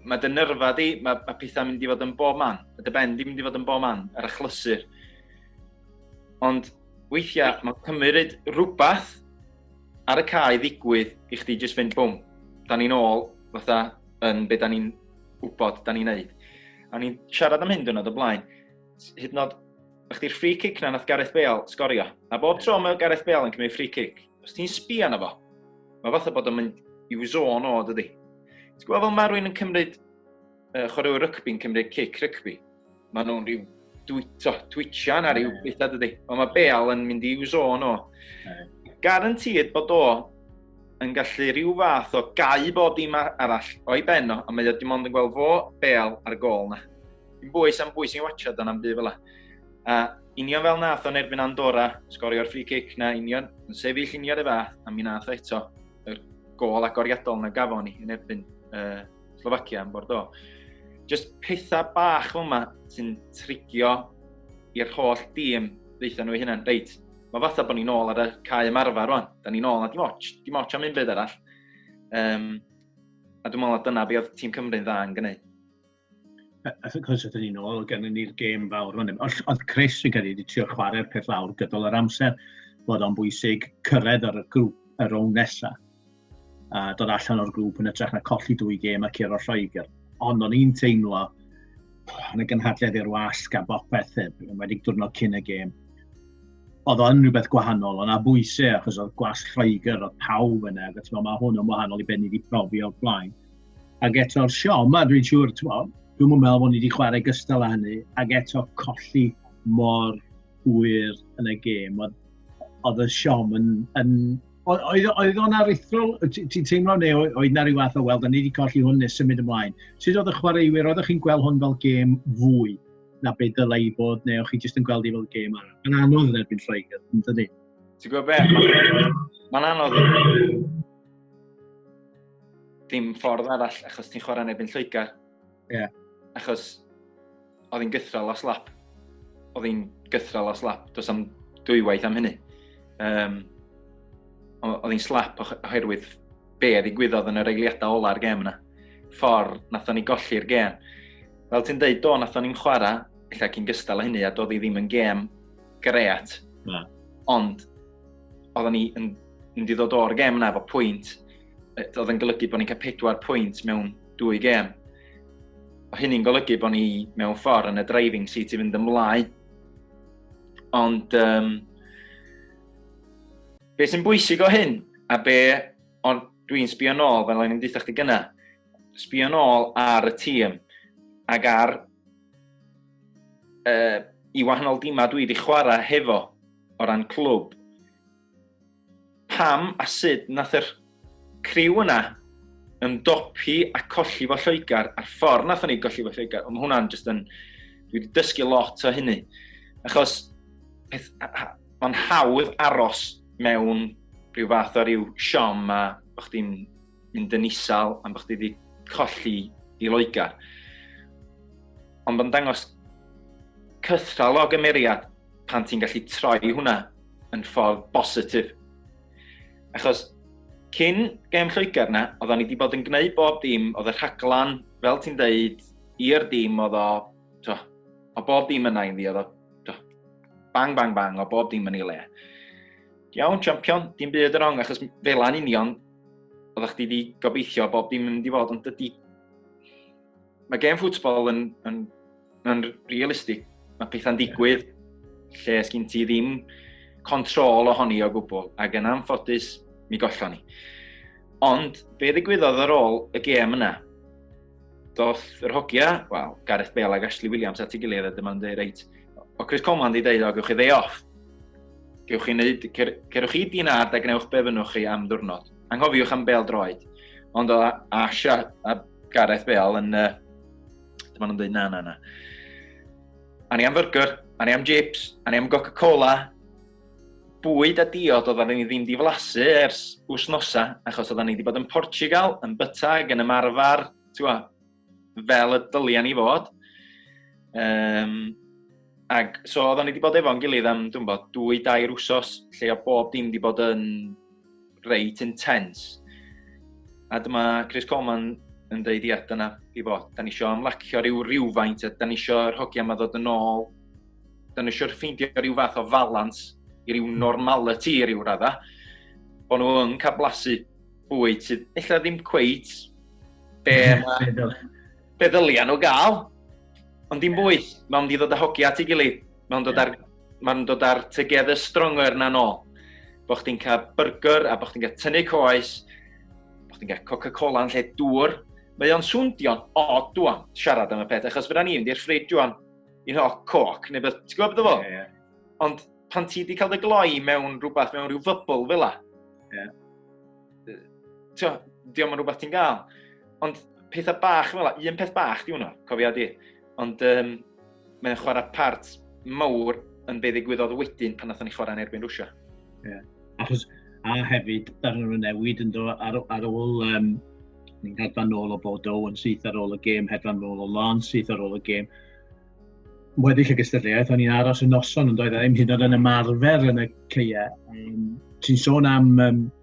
mae dy nyrfa di, mae, mae pethau'n mynd i fod yn bob man. Mae dy ben di mynd i fod yn bob man, yr achlysur. Ond weithiau, mae'n cymryd rhywbeth ar y cae ddigwydd i chdi jyst fynd bwm. Da ni'n ôl, fatha, yn beth da ni'n wybod, da ni'n neud. A ni'n siarad am hyn dwrnod o blaen. Hyd nod Ych di'r free kick na nath Gareth Bale sgorio. A bob tro mae Gareth Bale yn cymryd free kick, os ti'n sbio arno fo, mae fatha bod o'n mynd i'w zôn o, dydy. Ti'n gwybod fel mae rwy'n yn cymryd, uh, chwaraewyr rygbi'n cymryd cic rygbi, mae nhw'n rhyw dwyto, twitio na rhyw beth a dydy. Ond mae Bale yn mynd i'w zôn o. Garantid bod o yn gallu rhyw fath o gau bod dim arall o'i ben o, a mae o dim ond yn gweld fo Bale ar y gol na. Dim bwys am bwy sy'n watchad dan am byd fel A union fel nath o'n erbyn Andorra, sgorio'r free kick na union, yn sefyll union y fath, a mi nath eto y gol agoriadol na gafo ni yn erbyn uh, Slovakia yn Bordeaux. Just pethau bach fel yma sy'n trigio i'r holl dîm ddeitha nhw i hynny'n reit, mae fatha bod ni'n ôl ar y cae ymarfer rwan. Da ni'n ôl na dim ots, dim ots am un byd arall. Um, a dwi'n meddwl na dyna beth oedd tîm Cymru'n dda yn gwneud. achos ydyn ni'n ôl, gen ni'r gêm fawr. Ond, oedd Chris, fi'n credu, wedi trio chwarae'r peth lawr gydol yr amser, bod o'n bwysig cyrraedd ar y grŵp y rown nesaf. A dod allan o'r grŵp yn ytrach na colli dwy gêm a curo Lloegr. Ond o'n i'n teimlo, yn y gynhadledd i'r wasg a bopeth, yn wedi diwrnod cyn y gêm, oedd o'n rhywbeth gwahanol, ond a bwysau, achos oedd gwas Lloegr, oedd pawb yna, mae hwn yn wahanol i beth ni wedi profi o'r blaen. Ac eto'r siom, a dwi'n siŵr, ti'n mo, dwi'n mwyn meddwl bod ni wedi chwarae gystal â hynny, ac eto colli mor hwyr yn y gêm. Oedd y siom yn... yn oedd, oedd o'n aruthrol, ti'n teimlo neu oedd na rhyw fath o, wel, da ni wedi colli hwn neu symud ymlaen. Sut oedd y chwaraewyr, oeddech chi'n gweld hwn fel gêm fwy na beth dylai i bod, neu o'ch chi jyst yn gweld i fel gêm arall? Mae'n anodd yn erbyn Lloegr, yn dydi? Ti'n gwybod beth? Mae'n anodd. dim ffordd arall, achos ti'n chwarae neb yn Lloegr. Ie. Yeah. Achos oedd hi'n gythral o slap. Oedd hi'n gythral o slap, dos am dwywaith am hynny. Um, oedd hi'n slap oherwydd be a ddigwyddodd yn yr eiliadau ola'r gem yna. Ffordd, nath o'n i golli'r gem. Fel ti'n dweud, do, nath o'n i'n chwarae, efallai cyn gystal o hynny, a doedd hi ddim yn gem great. Na. Ond oedden ni yn mynd i ddod o'r gem yna efo pwynt, oedd yn golygu bod ni'n cael pedwar pwynt mewn dwy gem. O hynny'n golygu bod ni mewn ffordd yn y driving seat i fynd ymlaen. Ond um, be sy'n bwysig o hyn, a be ond dwi'n sbio nôl, fel o'n i'n dweud chdi gyna, sbio nôl ar y tîm ac ar uh, i wahanol dimau dwi wedi chwarae hefo o ran clwb. Pam a sut nath yr criw yna ymdopi a colli fo Lloegr a'r ffordd nath ni golli fo Lloegr. Ond mae hwnna'n just yn... Dwi wedi dysgu lot o hynny. Achos mae'n hawdd aros mewn rhyw fath o ryw siom a bod chdi'n mynd yn isal am bod chdi wedi colli i Loegr. Ond mae'n dangos cythral o gymeriad pan ti'n gallu troi hwnna yn ffordd bositif. Achos cyn gem Lloegr na, oedden ni wedi bod yn gwneud bob dim, oedd y rhaglan, fel ti'n deud, i'r dim oedd o, to, o bob dim yna i ni, oedd o, to, bang, bang, bang, o bob dim yn ei le. Iawn, champion, dim byd yn rong, achos fel a'n union, oeddech chdi wedi gobeithio bob dim yn mynd i fod, ond dydy... Mae gem ffwtbol yn, yn Mae'n realistig. Mae pethau'n digwydd lle sgyn ti ddim control ohoni o gwbl, ac yn anffodus, mi gollon ni. Ond, be ddigwyddodd ar ôl y gêm yna? Doth yr hogia, wel, Gareth Bale ac Ashley Williams at ei gilydd a dyma'n dweud, reit, o Chris Coleman di dweud, o, gewch chi ddei off. Gewch chi wneud, cer, cerwch chi di'n ard a gwnewch be fynnwch chi am ddwrnod. Anghofiwch am Bale droed. Ond o Ash a, a Gareth Bale yn uh, Dyma nhw'n dweud na, na, na. A ni am fyrgyr, a ni am jips, a ni am Coca-Cola. Bwyd a diod oedden ni ddim di flasu ers wsnosa, achos oedden ni wedi bod yn Portugal, yn byta ag yn ymarfer, ti'n fel y dyliau ni fod. Um, Ac so oedden ni wedi bod efo'n gilydd am, dwi'n bod, dwy, dair wsos, lle o bob dim wedi bod yn reit intense. A dyma Chris Coleman yn dweud, ia, dyna i fod. Da ni eisiau ymlacio rhyw rhywfaint, a da ni eisiau'r hogia yma ddod yn ôl. Da ni eisiau ffeindio rhyw fath o falans i ryw normality i ryw radda. Bod nhw yn cael blasu bwyd sydd illa ddim cweit be mae Be ddylia nhw gael? Ond dim bwy, mae'n mynd i ddod â hogi at ei gilydd. Mae'n dod ar, mae'n dod ar together stronger na nôl. Bo chdi'n cael burger a bo chdi'n cael tynnu coes, bo chdi'n cael Coca-Cola yn lle dŵr. Mae o'n swndio'n od dwan, siarad am y peth, achos fydda ni'n di'r ffrid dwan, i'n hoc coc, neu beth, ti'n gwybod beth o fo? Yeah, yeah. Ond pan ti wedi cael dy gloi mewn rhywbeth, mewn rhyw fybl fel la, yeah. ti'n diolch yn rhywbeth ti'n gael. Ond pethau bach fel un peth bach di hwnna, cofia di. Ond um, mae'n chwarae part mawr yn be ddigwyddodd wedyn pan nathon ni chwarae yn erbyn Rwysia. Yeah. Achos, a hefyd, darn o'r newid yn dod ar, ar ôl, um, ni'n hedfan ôl o bod o yn syth ar ôl y gêm, hedfan ôl o lan syth ar ôl y gêm. Weddill y gystadleuaeth, o'n i'n aros y noson, ond oedd e ddim hyd yn ymarfer yn y ceia. Um, Ti'n sôn am um,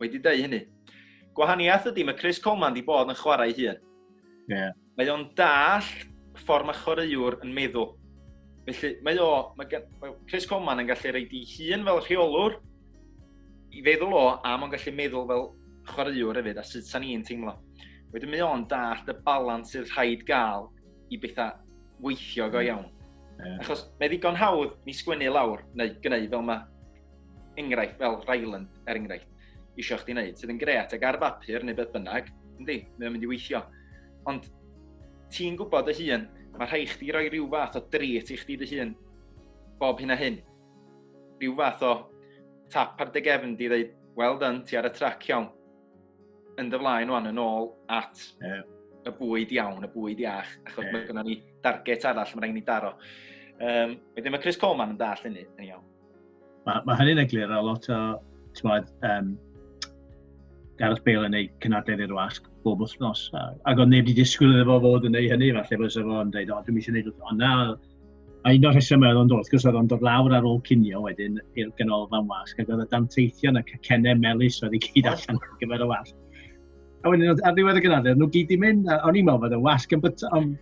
Wedi dweud hynny. Gwahaniaeth ydy, mae Chris Coleman wedi bod yn chwarae hun. Yeah. Mae o'n dall ffordd mae chwaraewr yn meddwl. Felly, mae o, mae, mae Chris Coleman yn gallu reid i hun fel rheolwr i feddwl o, a mae'n gallu meddwl fel chwaraewr hefyd, a sut sa'n ni'n teimlo. Wedyn mae o'n dall y balans sydd rhaid gael i bethau weithio go hmm. iawn. Yeah. Achos mae ddigon hawdd ni sgwennu lawr, neu gynnu fel mae enghraifft fel Ryland, er enghraifft, eisiau chdi wneud, sydd yn gret ac ar bapur neu beth bynnag, yndi, mae'n mynd i weithio. Ond ti'n gwybod dy hun, mae rhai chdi roi rhyw fath o dret i chdi dy hun bob hyn a hyn. Rhyw fath o tap ar dy gefn di ddeud, well done, ti ar y trac iawn. Yn dy flaen o'n yn ôl at yeah. y bwyd iawn, y bwyd iach, achos yeah. mae gynnon ni darget arall, mae'n rhaid ni daro. Um, wedyn mae Chris Coleman yn dall hynny, yn iawn. Mae, mae hynny'n eglur a lot o, ti'n bod, um, Gareth Bale yn ei cynadledd i'r wasg bob wythnos. Ac oedd neb wedi disgwyl iddo fo fod yn ei hynny, falle bod sef o'n dweud, o, dwi'n eisiau gwneud wrth. Ond na, a un o'r rhesymau oedd o'n dod, gwrs oedd o'n dod lawr ar ôl cinio wedyn i'r ganolfan wasg, ac oedd y danteithion a cacennau melus oedd i gyd allan ar gyfer y wasg. A wedyn, ar ddiwedd y gynadledd, nhw gyd i mynd, a o'n i'n meddwl bod y wasg yn byta, ond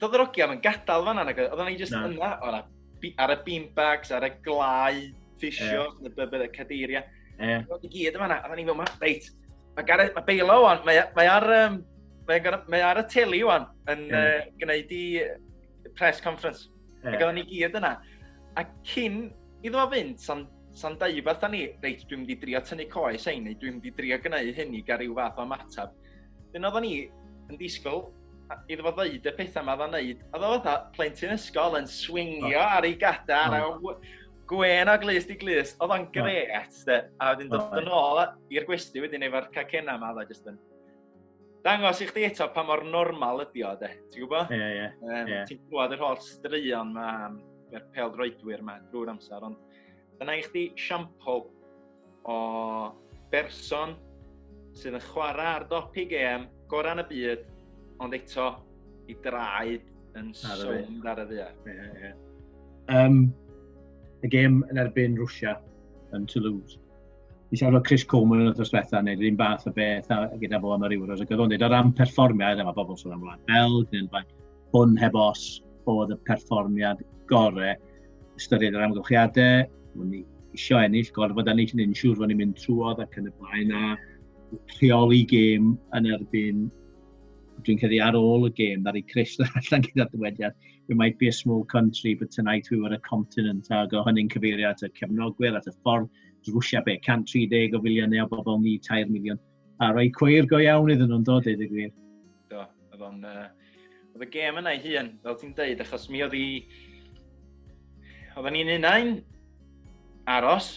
Doedd yr ogiau yn gadael fanna, nag oedd yna i jyst yna, ar y beanbags, ar y glau, ffisio, yeah. y bybyd, y cadeiriau. Yeah. Oedd i gyd yma, oedd ni'n meddwl, reit, mae Gareth, mae Beilo o'n, mae, mae ar, um, mae, mae ar y teli o'n, yn yeah. uh, gwneud i press conference. Yeah. Ac oedd ni gyd yna. A cyn iddo fo fynd, sa'n san dau fath ni, reit, dwi'n mynd i drio tynnu coes ein, neu dwi'n mynd i drio gwneud hyn i gael rhyw fath o ymateb. Dyna oedden ni yn disgwyl iddo fo ddeud y pethau yma dda'n neud, a ddo fatha plentyn ysgol yn swingio oh. ar ei gadar, oh. a gwen o glust i glust, oedd o'n gret, oh. a wedyn dod oh. yn ôl i'r gwesti wedyn efo'r cacena yma, oedd jyst yn dangos i chdi eto pa mor normal ydi o, de. Ti'n gwybod? Ie, ie. Ti'n gwybod yr holl straeon yma, yr pel droedwyr yma drwy'r amser, ond dyna i chdi siampl o berson sydd yn chwarae ar dopi gêm gorau yn y byd, ond eto i draed yn sownd ar y ddia. Yeah, yeah. Um, y gêm yn erbyn Rwysia yn Toulouse. Fi siarad o Chris Coleman yn y ddosbetha, neu rhywun bach y beth a, gyda fo am yr Euros, ac oedd o'n dweud o ran perfformiad, yma bobl sôn am Wlad Belg, neu'n fain, hwn heb os oedd y perfformiad gorau. Ystyried yr amgylchiadau, o'n i isio ennill, gorfod ennill yn unsiwr, o'n i'n mynd trwodd ac yn y blaen a rheoli gêm yn erbyn dwi'n credu ar ôl y gêm, ddari Chris allan gyda'r dywediad, we might be a small country, but tonight we were a continent, a go hynny'n cyfeirio at y cefnogwyr, at y ffordd, Rwysia be, 130 o filiynau o bobl ni, 3 miliwn. A rhoi cweir go iawn iddyn nhw'n dod iddyn gwir. Do, oedd o'n... Uh, oedd y gêm yna i hun, fel ti'n deud, achos mi oedd i... Oedden ni'n unau'n aros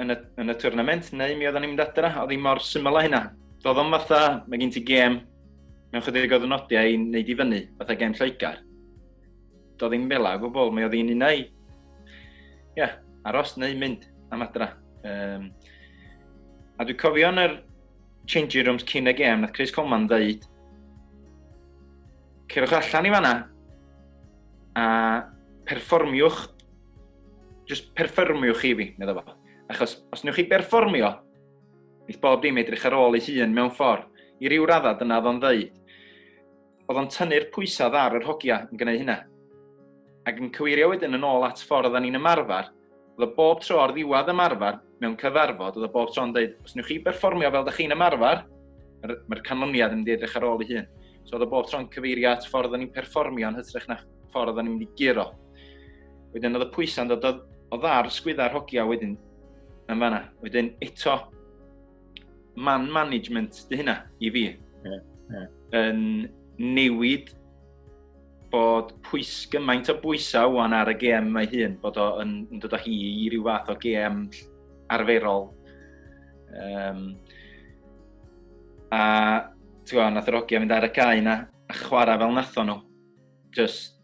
yn y, yn y twrnament, neu mi oedden ni'n mynd adra, oedd hi mor syml o hynna. Doedd o'n fatha, mae gen ti gêm mewn chydig o ddynodiau i wneud i fyny, fatha gêm Lloegr. Do ddim fel o gwbl, mae o ddi'n un ei. Ie, yeah, aros neu mynd am adra. Um, a dwi'n cofio yn yr changing rooms cyn y gêm, nath Chris Coleman ddeud, cerwch allan i fanna, a perfformiwch, just perfformiwch chi fi, meddwl fo. Achos os newch chi berfformio, bydd bob dim edrych ar ôl ei hun mewn ffordd. I ryw raddau dyna oedd o'n ddeud. oedd o'n tynnu'r pwysau ar yr hogia yn gwneud hynna. Ac yn cyweirio wedyn yn ôl at ffordd o'n ni'n ymarfer, oedd o bob tro o'r ddiwedd ymarfer mewn cyfarfod, oedd o bob tro'n dweud, os newch chi berfformio fel da chi'n ymarfer, mae'r canlyniad yn mynd i edrych ar ôl ei hun. So oedd o bob tro'n cyfeirio at ffordd o'n ni'n perfformio yn hytrach na ffordd o'n ni'n mynd i guro. Wedyn oedd y pwysau'n dod o, o ddar sgwydda'r hogia wedyn yn fanna. Wedyn eto, man management dy hynna i fi. Yeah, yeah. Yn newid bod pwys gymaint o bwysau wan ar y gem mae hun, bod o'n yn dod o hi i ryw fath o gem arferol. Um, a ti'n gwybod, nath yr ogia mynd ar y cae na, a chwarae fel natho nhw. Just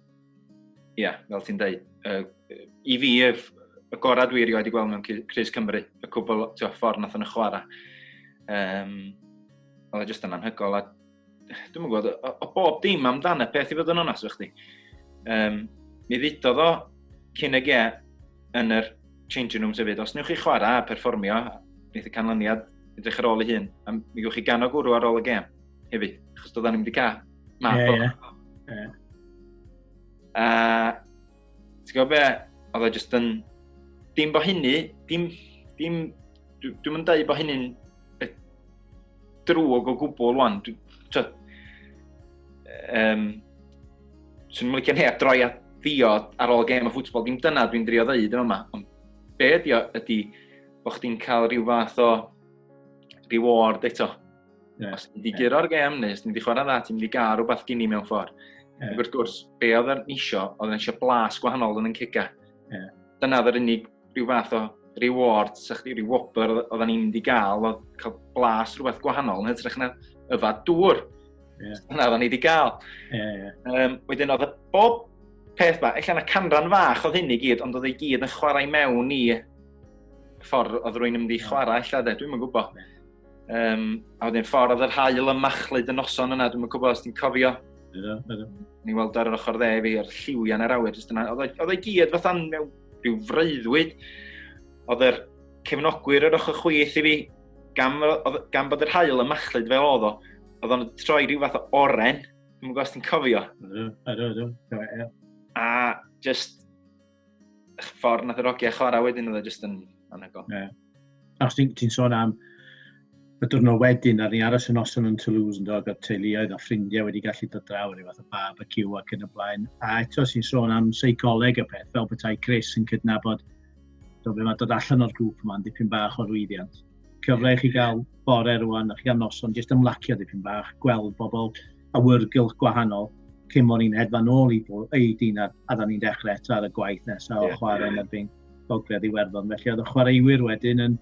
Ie, yeah, fel ti'n dweud. Uh, I fi, ef, y gorau dwi erioed i gweld mewn Cris Cymru, y cwbl tio, ffordd nath yn y chwarae. Um, oedd e jyst yn anhygol, a dwi'n mwyn gwybod, o, o bob dim amdan y peth i fod yn onas o'ch chdi. Um, mi ddudodd o cyn y ge yn yr changing room sefyd, os newch chi chwarae a perfformio, neith y canlyniad edrych ar ôl ei hun, a mi gwch chi gan o gwrw ar ôl y gem hefyd, achos doeddan ni'n mynd i cael Na, yeah, yeah. yeah. Uh, Ti'n gwybod be? Oedd o just yn... Dim bo hynny, dim... dim Dwi'n mynd dweud bo hynny'n drwg o gwbl rwan. Dwi'n... Um, Swn i'n licio neb droi at ddiod ar ôl gêm o ffwtbol, dim dyna dwi'n drio ddeud yn yma. Ond be ydi o ydi bod chdi'n cael rhyw fath o reward eto. Yeah. Os ti'n di yeah. gyro'r gem, neu os ti'n di chwarae dda, ti'n mynd i gael rhywbeth gini mewn ffordd. Yeah. Ac wrth gwrs, be oedd yn isio, oedd yn isio blas gwahanol yn yn ciga. Yeah. Dyna oedd yr unig rhyw fath o reward, sa chdi, rhyw wobr oedd yn mynd i gael, oedd cael blas rhywbeth gwahanol, yn hytrach na yfa dŵr. Yeah. Dyna oedd yn ei di gael. Yeah, yeah. Um, wedyn oedd y bob peth ba, efallai na canran fach oedd hyn i gyd, ond oedd ei gyd yn chwarae mewn i ffordd oedd rwy'n mynd i chwarae, efallai, dwi'n mynd gwybod. Yeah. Um, a wedyn ffordd yr hael yn machlyd y noson yna, dwi'n gwybod os ti'n cofio. Ydw, ydw. Ni weld ar yr ochr dde fi, o'r lliwiau yn yr awyr. Oedd o'i gyd fatha mewn rhyw freuddwyd. Oedd yr cefnogwyr yr ochr chwith i fi, gan, gan bod yr hael yn machlyd fel oedd o, oedd o'n troi rhyw fath o oren. Dwi'n gwybod os ti'n cofio. Ydw, ydw, ydw. A just ffordd nath yr ogia chwarae wedyn oedd e jyst yn anhygoel. Yeah. Os ti'n ti sôn am y diwrnod wedyn, ar ni aros yn noson yn Toulouse, yn dod â'r teuluoedd a ffrindiau wedi gallu dod draw yn ei fath o barbecue ac yn y blaen. A eto sy'n sôn am seicoleg y peth, fel bethau Chris yn cydnabod do fe mae dod allan o'r grŵp yma'n dipyn bach o rwyddiant. Cyfle i chi gael bore rwan, a chi gael noson, jyst ymlacio dipyn bach, gweld bobl, awyrgylch gwahanol cyn bod ni'n hedfan ôl i ei dyn a, a da ni'n dechrau eto ar y gwaith nesaf yeah, o chwarae yeah. yn erbyn Gogledd Iwerddon. Felly oedd y chwaraewyr wedyn yn,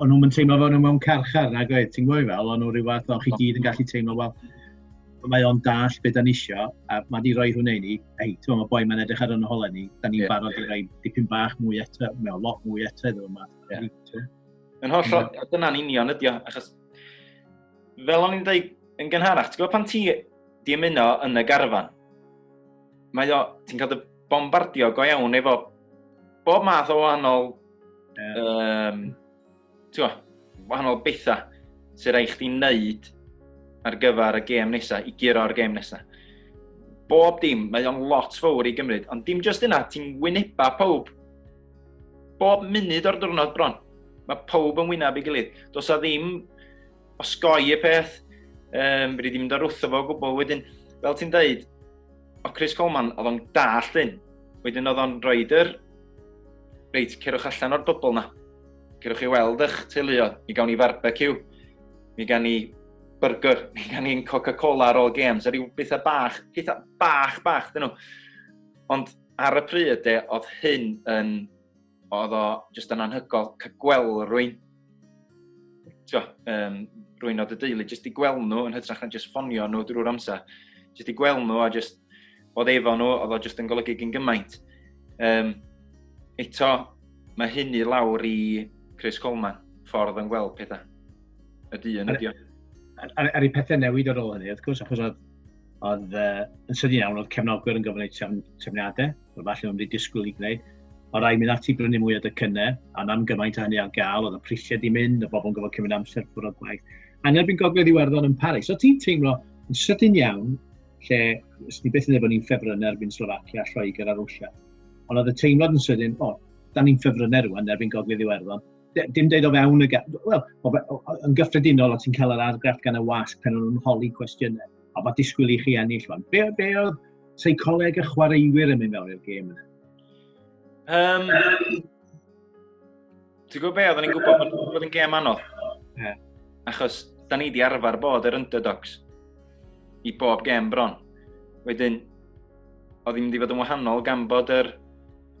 o'n nhw'n teimlo fel nhw mewn carchar nag oedd, ti'n gwybod fel, o'n nhw rhyw fath o'n chi gyd yn gallu teimlo fel, mae o'n dall beth da'n isio, a mae di roi hwnna i ni, ei, ti'n mae boi mae'n edrych ar yno holen ni, da ni'n yeah, barod yeah. i roi dipyn bach mwy eto, mewn lot mwy eto iddo yma. Yeah. Yn holl, dyna'n union ydi o, achos Fel o'n i'n dweud yn gynharach, ti'n gwybod pan ti di ymuno yn y garfan, mae o, ti'n cael dy bombardio go iawn efo bob math o wahanol, yeah. um, ti'n gwybod, wahanol bethau sy'n rhaid chdi wneud ar gyfer y gêm nesaf, i guro ar y gêm nesaf. Bob dim, mae o'n lot fawr i gymryd, ond dim jyst yna, ti'n wyneba pawb Bob munud o'r diwrnod bron. Mae pob yn wyneb ei gilydd. Does a ddim osgoi y peth. Um, Rydyn ni'n mynd ar wrtho fo gwbl wedyn. Fel ti'n dweud, o Chris Coleman, oedd o'n dall hyn. Wedyn oedd o'n rhoi yr... Reit, cerwch allan o'r bybl na. Cerwch chi weld eich teuluoedd. Mi gawn ni barbecue. Mi gawn ni burger. Mi gawn ni'n Coca-Cola ar ôl games. A rhyw bethau bach, pethau bach, bach, dyn nhw. Ond Ar y pryd de, oedd hyn yn... oedd o jyst yn anhygol cael gweld rwy'n... Tio, um, rwy'n oedd y deulu, jyst i gweld nhw yn hytrach na jyst ffonio nhw drwy'r amser. Jyst i gweld nhw a jyst oedd efo nhw, oedd o jyst yn golygu gyn gymaint. Um, eto, mae hyn i lawr i Chris Coleman, ffordd yn gweld pethau. Y dyn ydi o. Ar, ar, ar ei pethau newid ar ôl hynny, wrth gwrs, achos oedd Oedd uh, yn sydyn iawn, oedd cefnogwyr yn gofyn trefn, trefniadau, oedd falle nhw'n wedi disgwyl i gwneud. O rai mynd ati brynu mwy o dycynnau, a nam gymaint a hynny ar gael, oedd y prisiau di mynd, y bobl yn gofod cymryd amser ffwrdd o gwaith. A neb yn gogledd Iwerddon yn Paris. So ti'n teimlo yn sydyn iawn, lle ys ni beth yn ei bod ni'n ffefryn erbyn Slovakia, Lloegr a Rwysia. Ond oedd y teimlad yn sydyn, o, da ni'n ffefryn rwan erbyn gogledd Iwerddon. dim dweud o fewn y... Wel, yn gyffredinol, o ti'n cael yr argraff gan y wasg pan nhw'n holi cwestiynau. A bod disgwyl i chi ennill fan. Be, be oedd seicoleg y chwaraewyr yn mynd mewn i'r gêm yna? Um, Ti'n gwybod be, oedden ni'n gwybod bod yn gêm anodd. Yeah. Achos, da ni wedi arfer bod yr underdogs i bob gêm bron. Wedyn, oedd hi'n mynd i fod yn wahanol gan bod yr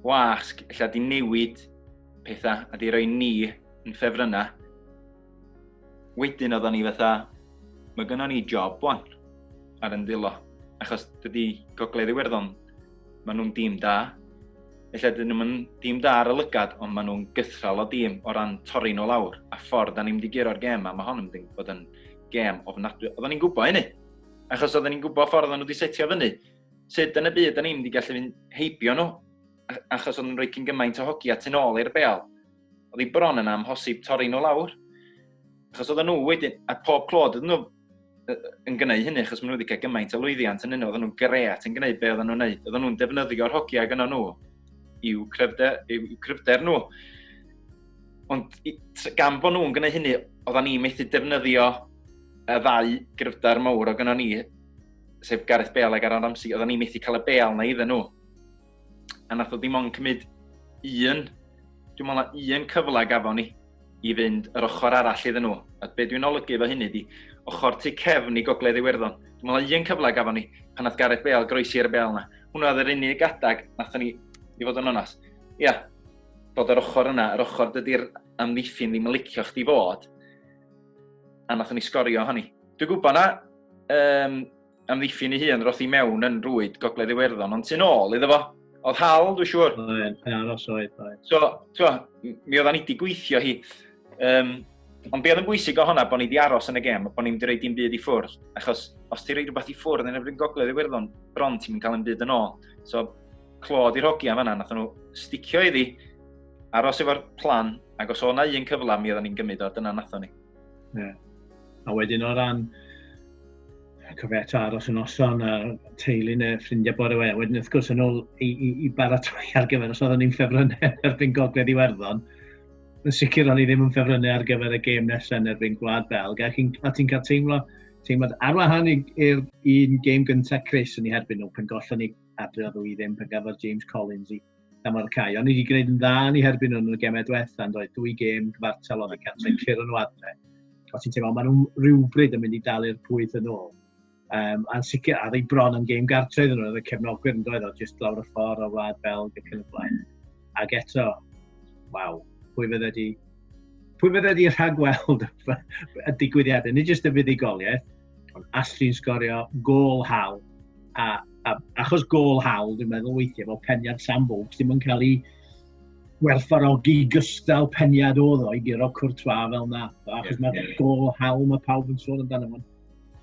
wasg lle di newid pethau a di roi ni yn ffefrynnau. Wedyn oeddwn ni fatha, mae gynnon ni job wan ar yn ddilo. Achos dydy Gogledd Iwerddon, maen nhw'n dîm da. Felly dyn nhw'n dîm da ar y lygad, ond maen nhw'n gythral o dîm o ran torri nhw lawr. A ffordd da ni'n mynd i guro'r gêm a mae hon yn mynd bod yn gêm ofnadwy. Oeddwn ni'n gwybod hynny. Achos oeddwn ni'n gwybod ffordd o'n nhw wedi setio fyny. Sut yn y byd da ni'n mynd i gallu fynd heibio nhw? achos oedd yn rhoi cyn gymaint o hogi at yn ôl i'r bel. Oedd hi bron yn amhosib torri nhw lawr. Achos oedd nhw wedyn, a pob clod oedd nhw yn gwneud hynny, achos maen nhw wedi cael gymaint o lwyddiant yn hynny, oedd nhw'n gret yn gwneud be oedd nhw'n gwneud. Oedd nhw'n defnyddio'r hogiau gyda nhw i'w cryfder, i'w cryfder nhw. Ond gan bod nhw'n gwneud hynny, oedden ni methu defnyddio y ddau gryfder mawr o gyda ni, sef Gareth Bale ac Aaron Ramsey, oedden ni methu cael y bel na iddyn nhw. a nath o ddim ond cymryd un, dwi'n meddwl na un cyfle gafon ni i fynd yr ochr arall iddyn nhw. A be dwi'n olygu efo hynny di, ochr tu cefn i Gogledd Iwerddon. Dwi'n meddwl na un cyfle gafon ni pan nath Gareth Bale groesi ar y bel yna. Hwna oedd yr unig adag nath ni, i fod yn onas. Ia, yeah, bod yr ochr yna, yr ochr dydy'r amddiffyn ddim yn licio chdi fod, a nath ni sgorio hynny. Dwi'n gwybod na, um, amddiffyn ei hun roth i mewn yn rwyd Gogledd Iwerddon, ond tu'n ôl iddo fo. Oedd hal, dwi'n siŵr. Oedd, pe aros oedd, oedd. So, twa, mi oedd ni wedi gweithio hi. Um, ond be oedd yn bwysig o honna, bod ni wedi aros yn y gem, bod ni wedi rhaid i'n byd i ffwrdd. Achos os ti'n rhaid rhywbeth i ffwrdd yn erbyn Gogledd Iwerddon, bron ti'n mynd cael yn byd yn ôl. So, clod i'r hogi am yna, nath nhw sticio iddi, aros efo'r plan, ac os o'na un cyfle, mi oedd ni'n gymryd o, dyna nath ni. Yeah. A wedyn o ran cyfet aros y noson a teulu neu ffrindiau bore we. Wedyn wrth gwrs yn ôl i, i, i baratoi ar gyfer os oeddwn ni'n ffefrynnau erbyn gogledd Iwerddon. Yn sicr o'n i ddim yn ffefrynnau ar gyfer y gêm nesaf yn erbyn Gwlad Belg. A ti'n ti cael teimlo, teimlo ar wahan i'r un gêm gyntaf Chris yn ei herbyn nhw pan gollon ni adre o ddwy ddim pan gafodd James Collins i gan fod y cae. Ond ni wedi gwneud yn dda ni herbyn nhw'n y gemau diwetha, yn dweud dwy gêm gyfartal o'n y cant yn curo nhw adre. Os ti'n teimlo, maen nhw rhywbryd yn mynd i dalu'r pwyth yn ôl. Um, a'n sicr, a ddeu bron yn gêm gartre iddyn nhw, oedd y cefnogwyr yn dweud o, jyst lawr y ffordd o wlad Belg ac yn y blaen. Ac eto, waw, pwy fydde wedi pwy fydde wedi rhagweld y digwyddiadau, nid jyst y fuddugoliaeth, Ond allu sgorio gol hawl. A, a achos gol hawl, dwi'n meddwl weithiau bod peniad Sam Vokes ddim yn cael ei werthfarogi gystal peniad oedd o i guro cwrtwa fel na. Achos yeah, mae'r yeah, yeah. gol hawl mae pawb yn sôn amdano fo.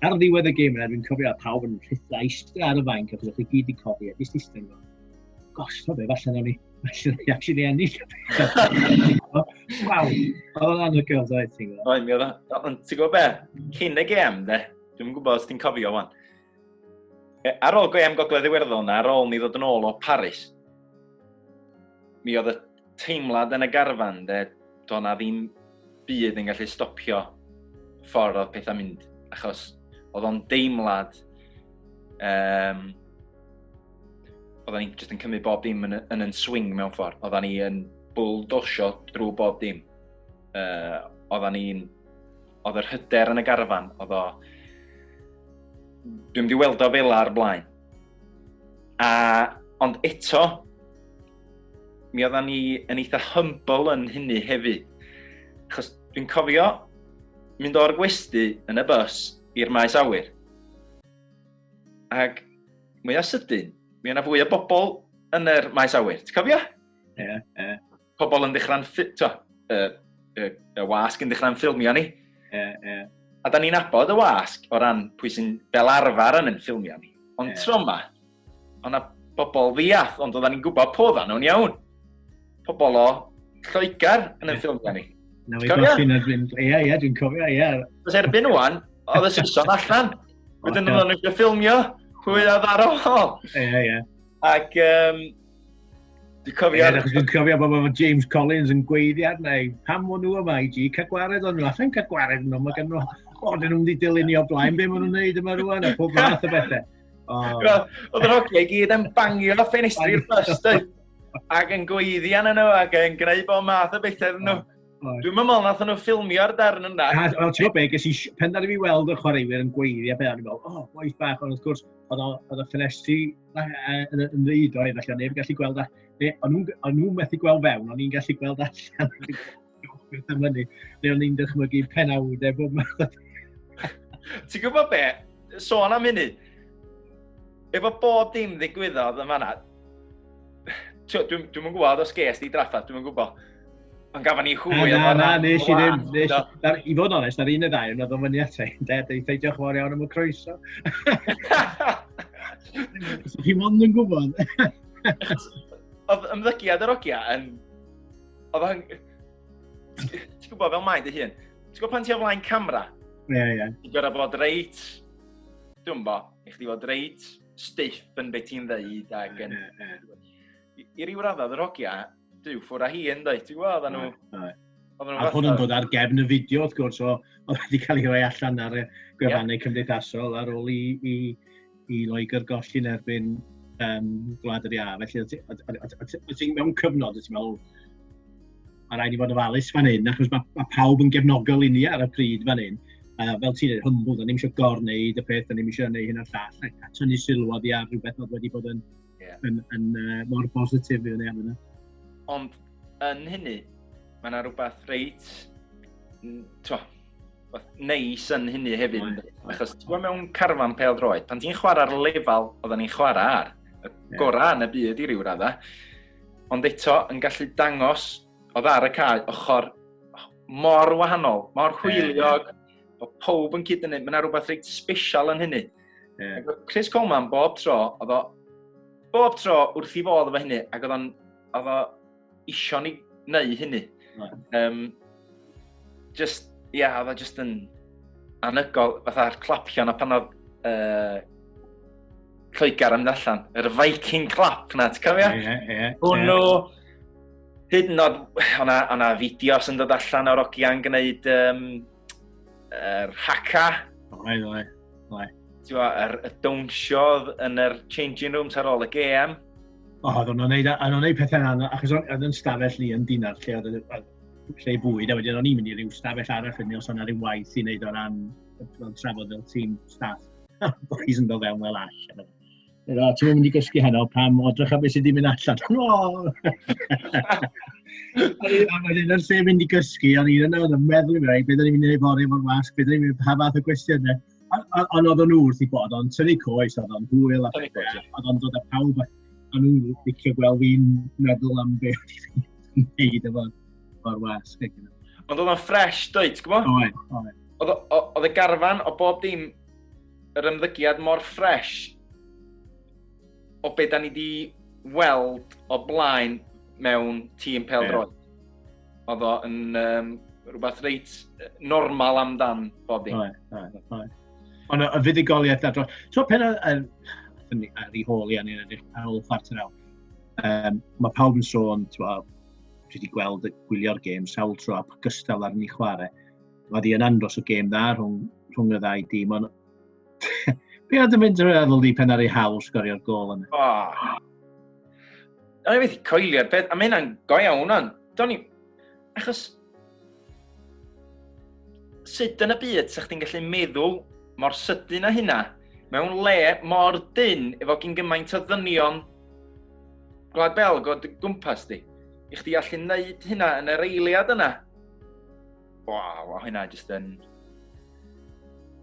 Ar ddiwedd y gêm yna, dwi'n cofio a pawb yn rhitha eistedd ar y fainc achos o'ch chi gyd i codi a dysd eistedd. Gosh, to be, falle na ni. Actually, actually ennill. Waw, oedd o'n anhygoel, dweud ti'n gwybod? Oedd, mi oedd o. Ond ti'n gwybod be? Cyn y gem, de? Dwi'n gwybod os ti'n cofio wan. E, ar ôl gem Gogledd Iwerddon, ar ôl ni ddod yn ôl o Paris, mi oedd y teimlad yn y garfan, de, doedd na ddim byd yn gallu stopio ffordd oedd pethau'n mynd, achos oedd o'n deimlad, um, oedden ni'n just yn cymryd bob dim yn, yn, yn swing mewn ffordd, oedden ni yn bwldosio drwy bob dim. Uh, oedden ni'n, oedd yr hyder yn y garfan, oedd o, dwi'n di weld o fel ar blaen, A, ond eto, mi oedda ni yn eitha humble yn hynny hefyd. Chos dwi'n cofio mynd o'r gwesti yn y bus i'r maes awyr. Ac mwyaf sydyn, mi o'na fwy o bobl yn yr maes awyr. Ti'n cofio? Ie, yeah, ie. Yeah. pobl yn dechrau'n, to, y, y, y wasg yn dechrau'n ffilmio ni. Yeah, yeah. A da ni'n abod y wasg o ran pwy sy'n fel arfer yn yn ffilmio ni. Ond yeah. tro yma, ond na bobl ddiath, ond oedden ni'n gwybod po dda nhw'n iawn. Pobl o Lloegr yn yn ffilmio ni. Na, i bach yn erbyn. Ie, ie, dwi'n cofio, ie. Os erbyn wan, oedd y sison allan. Wedyn nhw'n eisiau ffilmio, hwy a ddarol. Ie, ie. Ac um, Dwi'n cofio... Ie, dwi'n cofio bod efo James Collins yn gweiddiad neu pam o'n nhw yma i ti, cael gwared o'n nhw, a chael gwared nhw, mae gen nhw, o, dyn nhw'n ddidelunio o blaen, be maen nhw'n neud yma rwan, a pob fath o bethau. Oedd yr hogiau gyd yn bangio ffenestri ffyrst, ac yn gweiddian yn nhw, ac yn gwneud bob math o bethau yn nhw. Dwi'n meddwl nath nhw ffilmio'r darn yna. Na, wel, ti'n gwybod be, ges i, pen dan i fi weld y chwaraewyr yn gweiddi a beth, o'n i'n meddwl, o, oh, boes bach, ond wrth gwrs, oedd y ffenestri yn ymwneud o'i, felly o'n i'n gallu gweld, o'n nhw'n methu gweld fewn, o'n i'n gallu gweld allan, beth am hynny, neu o'n i'n dychmygu penawd e bob math. Ti'n gwybod be, sôn am hynny, Efo bob dim ddigwyddodd yn fanna, dwi'n dwi gwybod os ges di draffa, dwi'n gwybod. Ond gafon ni hwy o fanna. Na, nes i ddim. Nes, dar, I fod onest, ar un y ddau, oedd o'n fyny at ein ded, ei ffeidio chwar iawn am y croeso. So chi ond yn gwybod. Oedd ymddygiad yr ogia yn... Oedd o'n... Ti'n gwybod fel mae dy hun? Ti'n gwybod pan ti o flaen camera? Ie, ie. Ti'n gwybod bod reit... Dwi'n gwybod i chdi fod reit stiff yn beth ti'n ddeud ac yn... Yeah, yeah. I, I ryw raddau, yr hogia, dyw ffwr a hi yn dweud, ti'n gwybod, oedden nhw... A hwn yn dod ar gefn y fideo, wrth gwrs, o, oedd wedi cael ei roi allan ar y gwefannau yeah. cymdeithasol ar ôl i, i, i Loegr golli'n erbyn um, Gwlad yr Iâ. Felly, o ti'n mewn cyfnod, o ti'n meddwl, mae rhaid i fod ofalus fan hyn, achos mae, mae pawb yn gefnogol i ni ar y pryd fan hyn. Uh, fel ti'n dweud, hwmbl, da ni'n eisiau gorwneud y peth, da ni'n eisiau gwneud hyn o'r llall, a, a tynnu sylw oddi ar rhywbeth oedd wedi bod yn, yeah. yn, yn, yn uh, mor bositif i fyny yna. Ond yn hynny, mae yna rhywbeth reit, to, neis yn hynny hefyd, right. achos ti'n gwybod mewn carfan pel droed, pan ti'n chwarae'r lefel oedden ni'n chwarae ar, y gorau yn y byd i ryw raddau, ond eto yn gallu dangos oedd ar y cae ochr mor wahanol, mor hwyliog, o pob yn cyd yn mynd, mae yna rhywbeth reit special yn hynny. Yeah. Chris Coleman bob tro, oedd o bob tro wrth i fodd efo hynny, ac oedd o'n oedd o isio ni wneud hynny. Right. Um, Just, ia, yeah, oedd just yn anygol, fatha'r clapion a pan oedd uh, Lloegr yn allan, yr Viking clap na, ti'n cofio? Ie, ie, ie. Hwnnw, hyd yn oed, o'na fideos yn dod allan o'r ogiau'n gwneud um, er, haka. Oi, oi, oi. Ti'n fawr, er, y downsiodd yn yr changing rooms ar ôl y GM. O, oedd o'n gwneud, o'n gwneud pethau yna, achos oedd yn stafell ni yn dinar lle oedd lle bwyd, a wedyn o'n i'n mynd i ryw stafell arall wedyn os o'na ryw waith i wneud o ran fel trafod fel tîm staff. Bo chi'n sy'n dod fewn fel all. Edo, ti'n mynd i gysgu heno pam o drych a beth sydd wedi mynd allan. a wedyn yn lle mynd i gysgu, o'n i'n yna yn y meddwl i mi, beth o'n i'n mynd i wneud fory efo'r wasg, beth o'n i'n mynd i pa fath o gwestiynau. A a a oedden nhw wrth eu bodd, o'n nhw'n tynnu coes, oedd o'n hwyl a pethau, oedd o'n dod â pawb at, o'n nhw'n licio gweld fi'n meddwl am be o'n i'n gwneud efo'r ffordd wasg. Ond oedd o'n ffres, dweud, ti'n gwybod? Oedd, oedd. Oedd y garfan o bob dim, yr ymddygiad mor ffres o be da ni wedi weld o blaen mewn tîm pel-droed. oedd o yn um, rhywbeth reit normal amdan bob dim. Ond y fuddugoliaeth a dros... Ti'n pen ar ei hôl i angen edrych ar ôl chwarter awr. Um, mae pawb yn sôn, ti'n bod, dwi wedi gweld y gwylio'r gêm sawl tro a gystal ar ni chwarae. Mae di yn andros o gêm dda rhwng, rhwng y ddau dîm, ond Be oedd yn mynd drwy feddwl di pen ar ei hawl sgorio'r gol yna? Oh. O'n i wedi coelio'r peth, a mae hynna'n go iawn o'n. Do'n i... Achos... Sut yn y byd sa'ch ti'n gallu meddwl mor sydyn â hynna mewn le mor dyn efo gyn gymaint o ddynion Gwlad Belg o gwmpas di. I chdi allu neud hynna yn yr eiliad yna. Waw, a hynna jyst yn...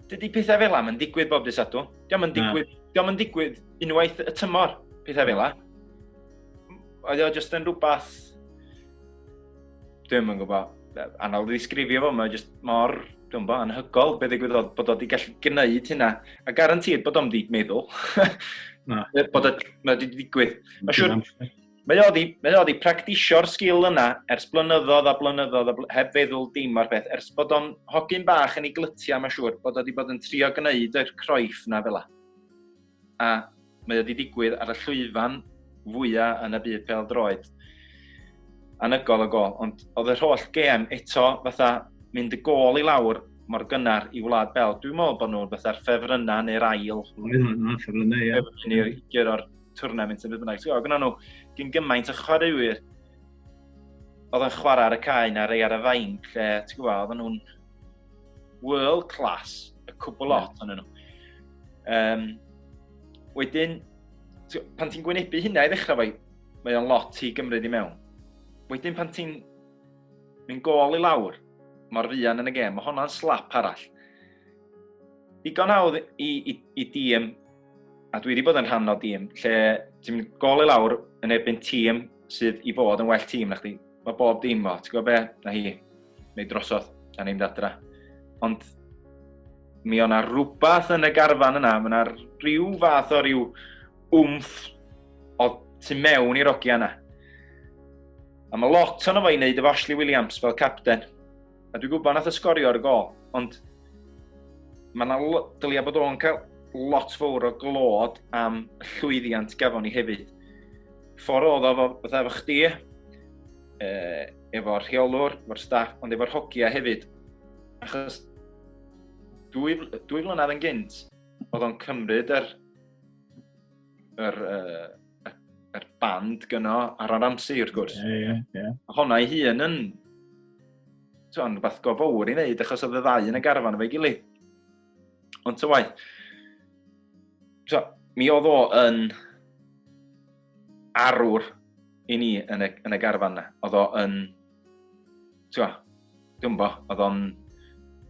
Dydy pethau fel am yn digwydd bob dys adw. Diolch yn digwydd, diolch yn digwydd unwaith y tymor, pethau fel am. Oedd o jyst yn rhywbeth... Dwi'n yn gwybod, anodd i ddisgrifio fo, mae jyst mor, dwi'n gwybod, anhygol beth ddigwydd oedd bod o wedi gallu gwneud hynna. A garantid bod o'n wedi meddwl. Na. bod o wedi digwydd. Mae'n siŵr... Mae o wedi, mae o wedi practisio'r sgil yna ers blynyddoedd a blynyddoedd a bl heb feddwl dim o'r peth, ers bod o'n hogyn bach yn ei glytiau, mae'n siŵr, bod o wedi bod yn trio gwneud yr croiff na fel A mae o wedi digwydd ar y llwyfan fwyaf yn y byd pel droed. Anygol o gol, ond oedd yr holl gem eto fatha mynd y gol i lawr mor gynnar i Wlad Bel. Dwi'n meddwl bod nhw'n fatha'r ffefrynnau neu'r ail. Oedd, oedd, ffefrynnau, ie. Ffefrynnau i'r twrnament yn byd bynnag. Ti'n gwybod, nhw gyn gymaint o chwaraewyr oedd yn chwarae ar y cae na rei ar y fain, lle, ti'n gwybod, oedden nhw'n world class, y cwbl lot o'n nhw. Um, wedyn, pan ti'n gwynebu hynna i ddechrau fai, mae o'n lot i gymryd i mewn. Wedyn pan ti'n mynd gol i lawr, mor fuan yn y gem, mae honna'n slap arall. Digon hawdd i, i, i dîm a dwi wedi bod yn rhan o dîm lle ti'n gol i lawr yn erbyn tîm sydd i fod yn well tîm na chdi. Mae bob dim fo, ti'n gwybod be? Na hi, neu drosodd, a ni'n dadra. Ond mi o'na rhywbeth yn y garfan yna, mae yna rhyw fath o rhyw wmff o tu mewn i'r ogia yna. A mae lot o'n efo i wneud efo Ashley Williams fel capten. A dwi'n gwybod nath o sgorio ar y gol, ond mae yna dylia bod o'n cael lot fawr o glod am llwyddiant gafon ni hefyd. Ffordd oedd o fatha efo chdi, e, efo'r rheolwr, efo'r staff, ond efo'r hogia hefyd. Achos dwy, dwy flynedd yn gynt, oedd o'n cymryd yr, yr uh, y, y band gyno ar yr amser, wrth gwrs. Ie, ie, ie. Honna i hun yn, ti'n rhywbeth go fawr i wneud, achos oedd y ddau yn y garfan efo'i gilydd. Ond ty waith, so, mi oedd o yn arwr i ni yn y, yn y garfan na. Oedd o yn Twa, dwi'n bo, oedd o'n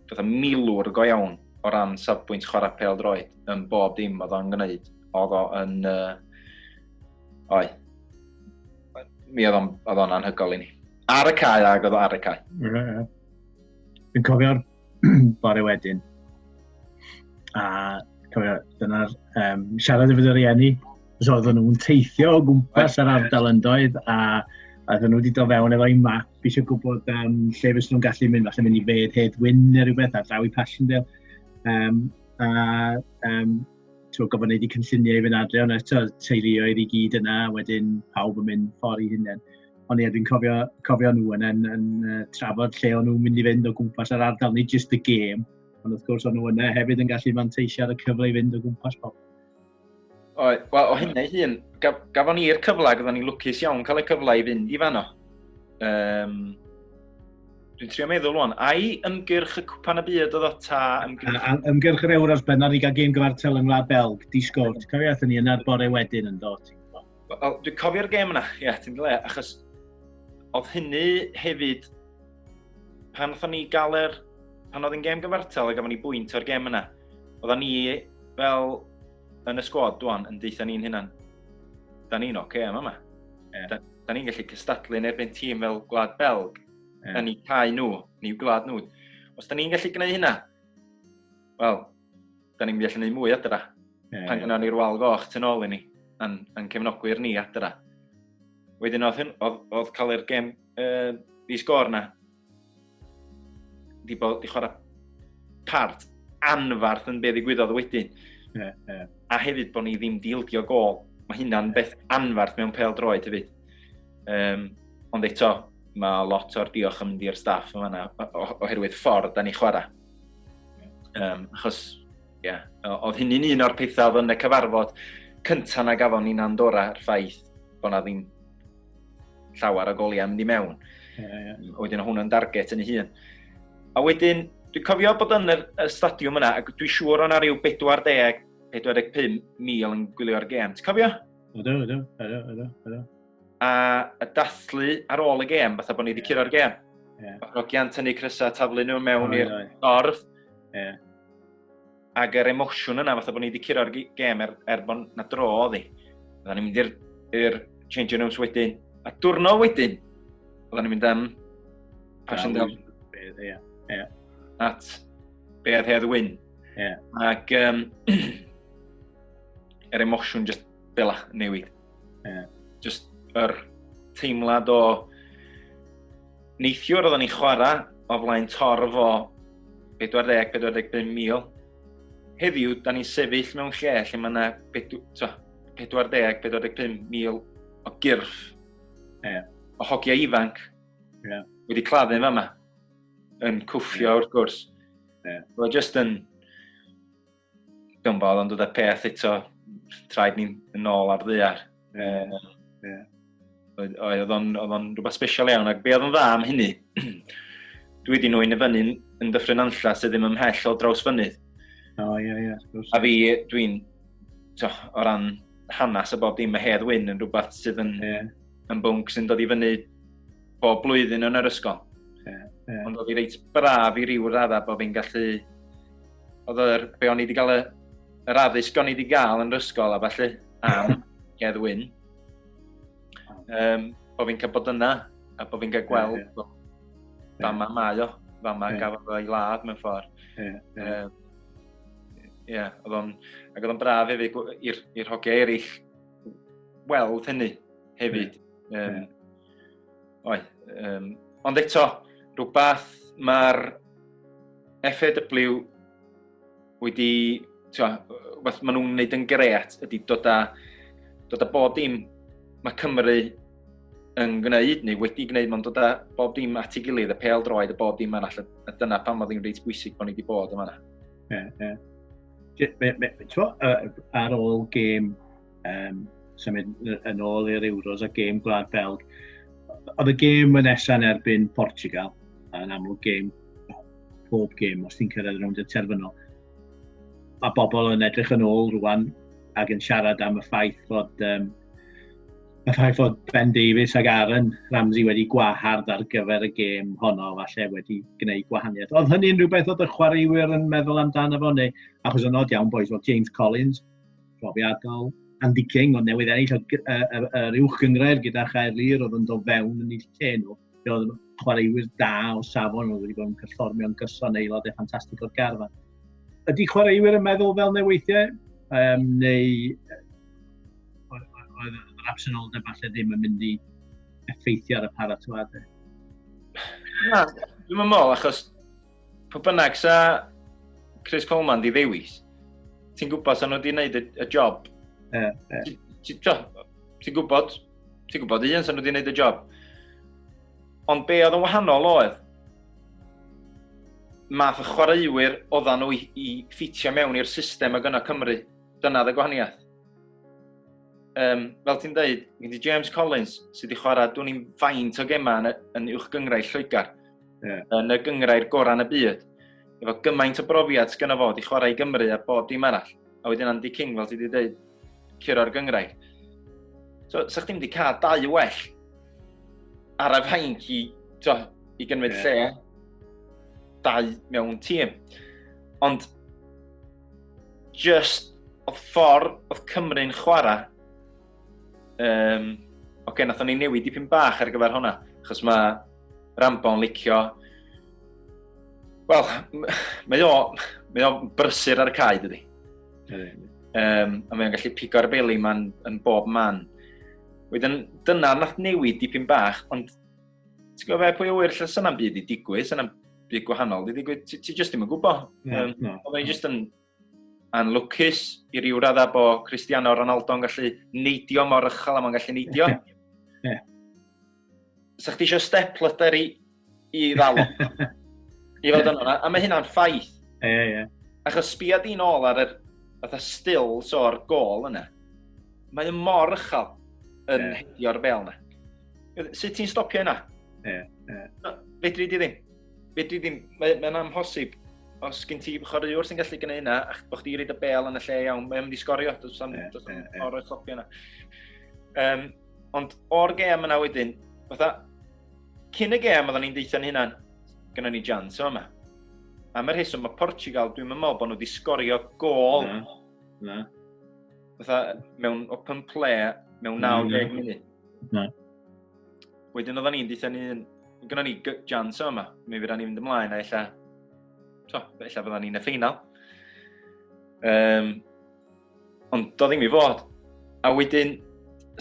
fatha milwr go iawn o ran safbwynt chwarae pel droed yn bob dim oedd o'n gwneud. Oedd o'n... Uh, oi. Mi oedd o'n, oedd o'n anhygol i ni. Ar y cae ag oedd o ar y cae. Yeah, yeah. Dwi'n cofio'r bore wedyn. A cofio, dyna'r um, siarad efo dy rieni, os oedden nhw'n teithio o gwmpas yr ardal yn doedd, a oedden nhw wedi do fewn efo i map, fi eisiau gwybod um, lle fes nhw'n gallu mynd, falle mynd i fed Hedd Wyn neu rhywbeth ar draw i Passchendaele. Um, a um, ti'n gofyn gwneud i cynlluniau i fynd adre, ond eto teuluoedd i gyd yna, wedyn pawb yn mynd ffordd i hunain. Ond ie, dwi'n cofio, cofio nhw yn, yn, yn uh, trafod lle o'n nhw'n mynd i fynd o gwmpas yr ardal, nid just y gêm, ond wrth gwrs o'n nhw yna hefyd yn gallu manteisio ar y cyfle i fynd o gwmpas bob. O, wel, o hynny hun, gaf, gafon ni'r cyfle, gafon ni lwcus iawn cael y cyfle i fynd i fanno. Um, Dwi'n trio meddwl o'n, ai ymgyrch y cwpan y byd oedd o ta ymgyrch... A, a, ymgyrch yr Euros benod i gael gêm gyfartel yng Ngwlad Belg, disgownt. Cofio athyn ni yna'r bore wedyn yn dod. Wel, dwi'n cofio'r gêm yna, ie, yeah, ti'n le, achos oedd hynny hefyd, pan oedd ni gael yr, pan oedd yn gêm gyfartal, a gafon ni bwynt o'r gêm yna, oedd ni fel yn y sgwad dwan yn deitha ni'n hynna'n, da ni'n oce okay, yma yma. Yeah. Da, da ni'n gallu cystadlu yn erbyn tîm fel Gwlad Belg, yeah. yn eu cael nhw, neu gwlad nhw. Os da ni'n gallu gwneud hynna, wel, da ni'n mynd i allu gwneud mwy adra. Yeah, Pan gynnon ni'r wal goch tu ôl i ni, yn, yn cefnogwyr ni adra. Wedyn oedd, hyn, oedd, oedd cael yr gem uh, i sgor na, di, bod, di chwarae part anfarth yn be ddigwyddodd wedyn. Yeah, yeah. A hefyd bod ni ddim dildio gol. Mae hynna'n beth anfarth mewn pel droed hefyd. Um, ond eto, mae lot o'r diolch yn mynd i'r staff yma oherwydd ffordd da ni chwarae. Um, achos, ie, yeah, oedd hynny'n un o'r pethau oedd yn y cyfarfod cyntaf na gafon ni'n Andorra, yr ffaith bod na ddim llawer o goliau mynd i mewn. Yeah, yeah. Wedyn o hwnna'n darget yn ei hun. A wedyn, dwi'n cofio bod yn y, y stadiwm yna, ac dwi'n siŵr o'na rhyw 40, 45 mil yn gwylio'r gêm. Ti'n cofio? Ydw, ydw, ydw, ydw, ydw. a, a dathlu ar ôl y gêm, fatha bod ni wedi curo'r gêm. Yeah. Mae Rogian tynnu crysau a taflu nhw mewn i'r dorf. Yeah. Ac yr emosiwn yna, fatha bod ni wedi curo'r gêm er, er bod na dro oddi. Oedden ni'n mynd i'r changing rooms wedyn. A diwrnod wedyn, oedden ni'n mynd am Passion Down. Ie, ie. At Bead Hedd Wyn. Ie. Ac um, yr emosiwn just bela newid. Yeah. Just yr er teimlad o neithiwr oedden ni chwarae o flaen torf o 40-45 mil. Heddiw, da ni'n sefyll mewn lle lle mae yna 40-45 mil o gyrff yeah. o hogiau ifanc yeah. wedi claddu yma, yn cwffio yeah. wrth gwrs. Yeah. Roedd jyst yn Dwi'n bod, ond y peth eto, traed ni'n yn ôl ar ddear. Yeah. Uh, yeah. Oedd o'n rhywbeth special iawn, ac be oedd yn dda am hynny, dwi wedi nhw'n i fyny yn dyffryn anlla sydd ddim ymhell o draws fynydd. O, oh, ie, yeah, ie. Yeah, a fi, dwi'n, o ran hanes a bob dim, mae Hedd Wyn yn rhywbeth sydd yn, yeah. yn bwnc sy'n dod i fyny bob blwyddyn yn yr ysgol. Yeah, yeah. Ond oedd i reit braf i ryw radda bod fi'n gallu oedd yr, be o'n i wedi cael y, yr addysg o'n i wedi cael yn yr ysgol a falle am Gedd Wyn. Um, bod fi'n cael bod yna a bod fi'n cael gweld yeah, yeah. fa ma mae o, fa ma yeah. gafodd o'i ladd mewn ffordd. Ie, yeah, yeah. um, yeah, oedd o'n, ac oedd o'n braf hefyd i'r hogiau eraill weld hynny hefyd. Yeah. Um, yeah. Oedd. Um, ond eto, rhywbeth mae'r FAW wedi, rhywbeth maen nhw'n gwneud yn gret ydy dod â, dod â bob dim mae Cymru yn gwneud neu wedi gwneud, mae'n dod â bob dim at ei gilydd, y pel droed, y bob dim arall, a dyna pam oedd hi'n reit bwysig bod ni wedi bod yma. Ie, ie. Ar ôl gêm um, symud yn ôl i'r Euros a gêm Gwlad Belg. Oedd y gêm yn nesaf yn erbyn Portugal, yn amlwg gêm, pob gêm, os ti'n cyrraedd rownd y terfynol. Mae bobl yn edrych yn ôl rwan ac yn siarad am y ffaith fod um, y ffaith fod Ben Davies ac Aaron Ramsey wedi gwahardd ar gyfer y gêm honno, falle wedi gwneud gwahaniaeth. Oedd hynny'n rhywbeth oedd y chwaraewyr yn meddwl amdano fo, neu achos yn odd iawn boys, oedd James Collins profiadol, Andy King, ond newydd ennill yr uwch gyngrair gyda Chaerlyr oedd yn dod fewn yn eich lle nhw. Fe oedd chwaraewyr da o safon oedd wedi bod yn perfformio'n gyson aelod e ffantastig o'r garfa. Ydy chwaraewyr yn meddwl fel neu weithiau? Um, neu oedd yr absenoldeb falle ddim yn mynd i effeithio ar y paratoadau? Na, dwi'n meddwl, achos Pwy bynnag sa Chris Coleman di ddewis, ti'n gwybod sa nhw wedi gwneud y, y job. Yeah, yeah. Ti'n ti, gwybod, ti'n gwybod un sa nhw wedi gwneud y job. Ond be oedd yn wahanol oedd, math y chwaraewyr oedden nhw i, i ffitio mewn i'r system ag yna Cymru. Dyna dda gwahaniaeth. Um, fel ti'n dweud, gen James Collins sydd wedi chwarae dwi'n i'n faint o gemau yn, yn uwch gyngrau Lloegr. yeah. yn y gyngrair gorau yn y byd. Efo gymaint o brofiad sy'n gyda fo, di chwarae i Gymru a bob dim arall. A wedyn Andy King, fel ti wedi dweud, curo'r gyngrair. So, sa chdi'n wedi cael dau well ar y fainc i, to, i gynfyd yeah. lle dau mewn tîm. Ond, just, oedd ffordd oedd Cymru'n chwarae Um, Oce, okay, nath o'n ei newid dipyn bach ar gyfer hwnna, achos mae Rambo'n licio... Wel, mae o, mae o brysur ar y cae, dydy. Mm. Um, a mae o'n gallu pigo'r beli ma'n yn bob man. Wedyn, dyna nath newid dipyn bach, ond ti'n gwybod fe, pwy o wir, lle sy'n am byd i digwydd, sy'n am byd gwahanol, di digwydd, ti, ti jyst ddim yn gwybod. No, um, no. Oedd o'n jyst yn Yn lwcus i ryw radda bo Cristiano Ronaldo yn gallu neidio mor ychel am o'n gallu neidio. Ie. Sa chdi eisiau step lyder i, i ddal o? I fod yn hwnna, a mae hynna'n ffaith. Ie, ie. ie. Achos sbia di'n ôl ar yr fatha stills o'r gol yna. Mae yn mor ychel yn yeah. hedio'r fel yna. Sut ti'n stopio yna? Ie, yeah, ie. Yeah. Fedri di ddim. Fedri ddim, mae'n mae amhosib. Os gen ti chwaraewr sy'n gallu gwneud yna, ac bod chdi reid y bel yn y lle iawn, mae'n mynd i sgorio, dwi'n sam yeah, yeah, yeah. o'r clopio yna. Um, ond o'r gem yna wedyn, fatha, cyn y gem oedden ni'n deitha ni hynna'n, gyda ni jans yma. Am yr heswm, mae Portugal, dwi'n meddwl bod nhw wedi sgorio gol. Na, na. Fatha, mewn open play, mewn 90 munud. Na. wedyn oedden ni'n dweud ni, gyda ni jans yma, mi fydda ni'n mynd ymlaen a illa, to, illa fydda ni'n y ffeinal. Um, ond do ddim i fod. A wedyn,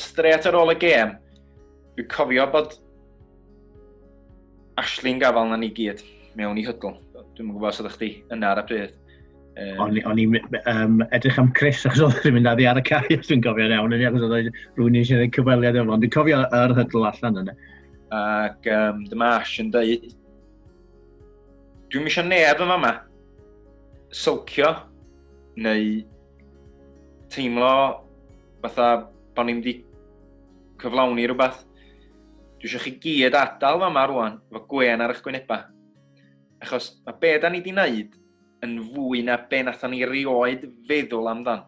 stret ar ôl y gêm, fi cofio bod Ashley'n gafal na ni gyd mewn i hydl. Dwi'n gwybod os ydych chi yna ar y pryd. Um, o'n o'n i'n um, edrych am Chris achos oedd yn mynd addi ar y cae, os dwi'n cofio'n iawn, yn achos oedd rwy'n eisiau gwneud cyfweliad efo, ond dwi'n cofio yr hydl allan yna. Ac um, dyma Ash yn dweud, dwi'n eisiau neb yma yma, sylcio, neu teimlo fatha bod ni'n wedi cyflawni rhywbeth. Dwi eisiau chi gyd adael yma rwan, fo gwen ar eich gwynebau. Achos mae be da ni wedi wneud yn fwy na be nathon ni rioed feddwl amdan.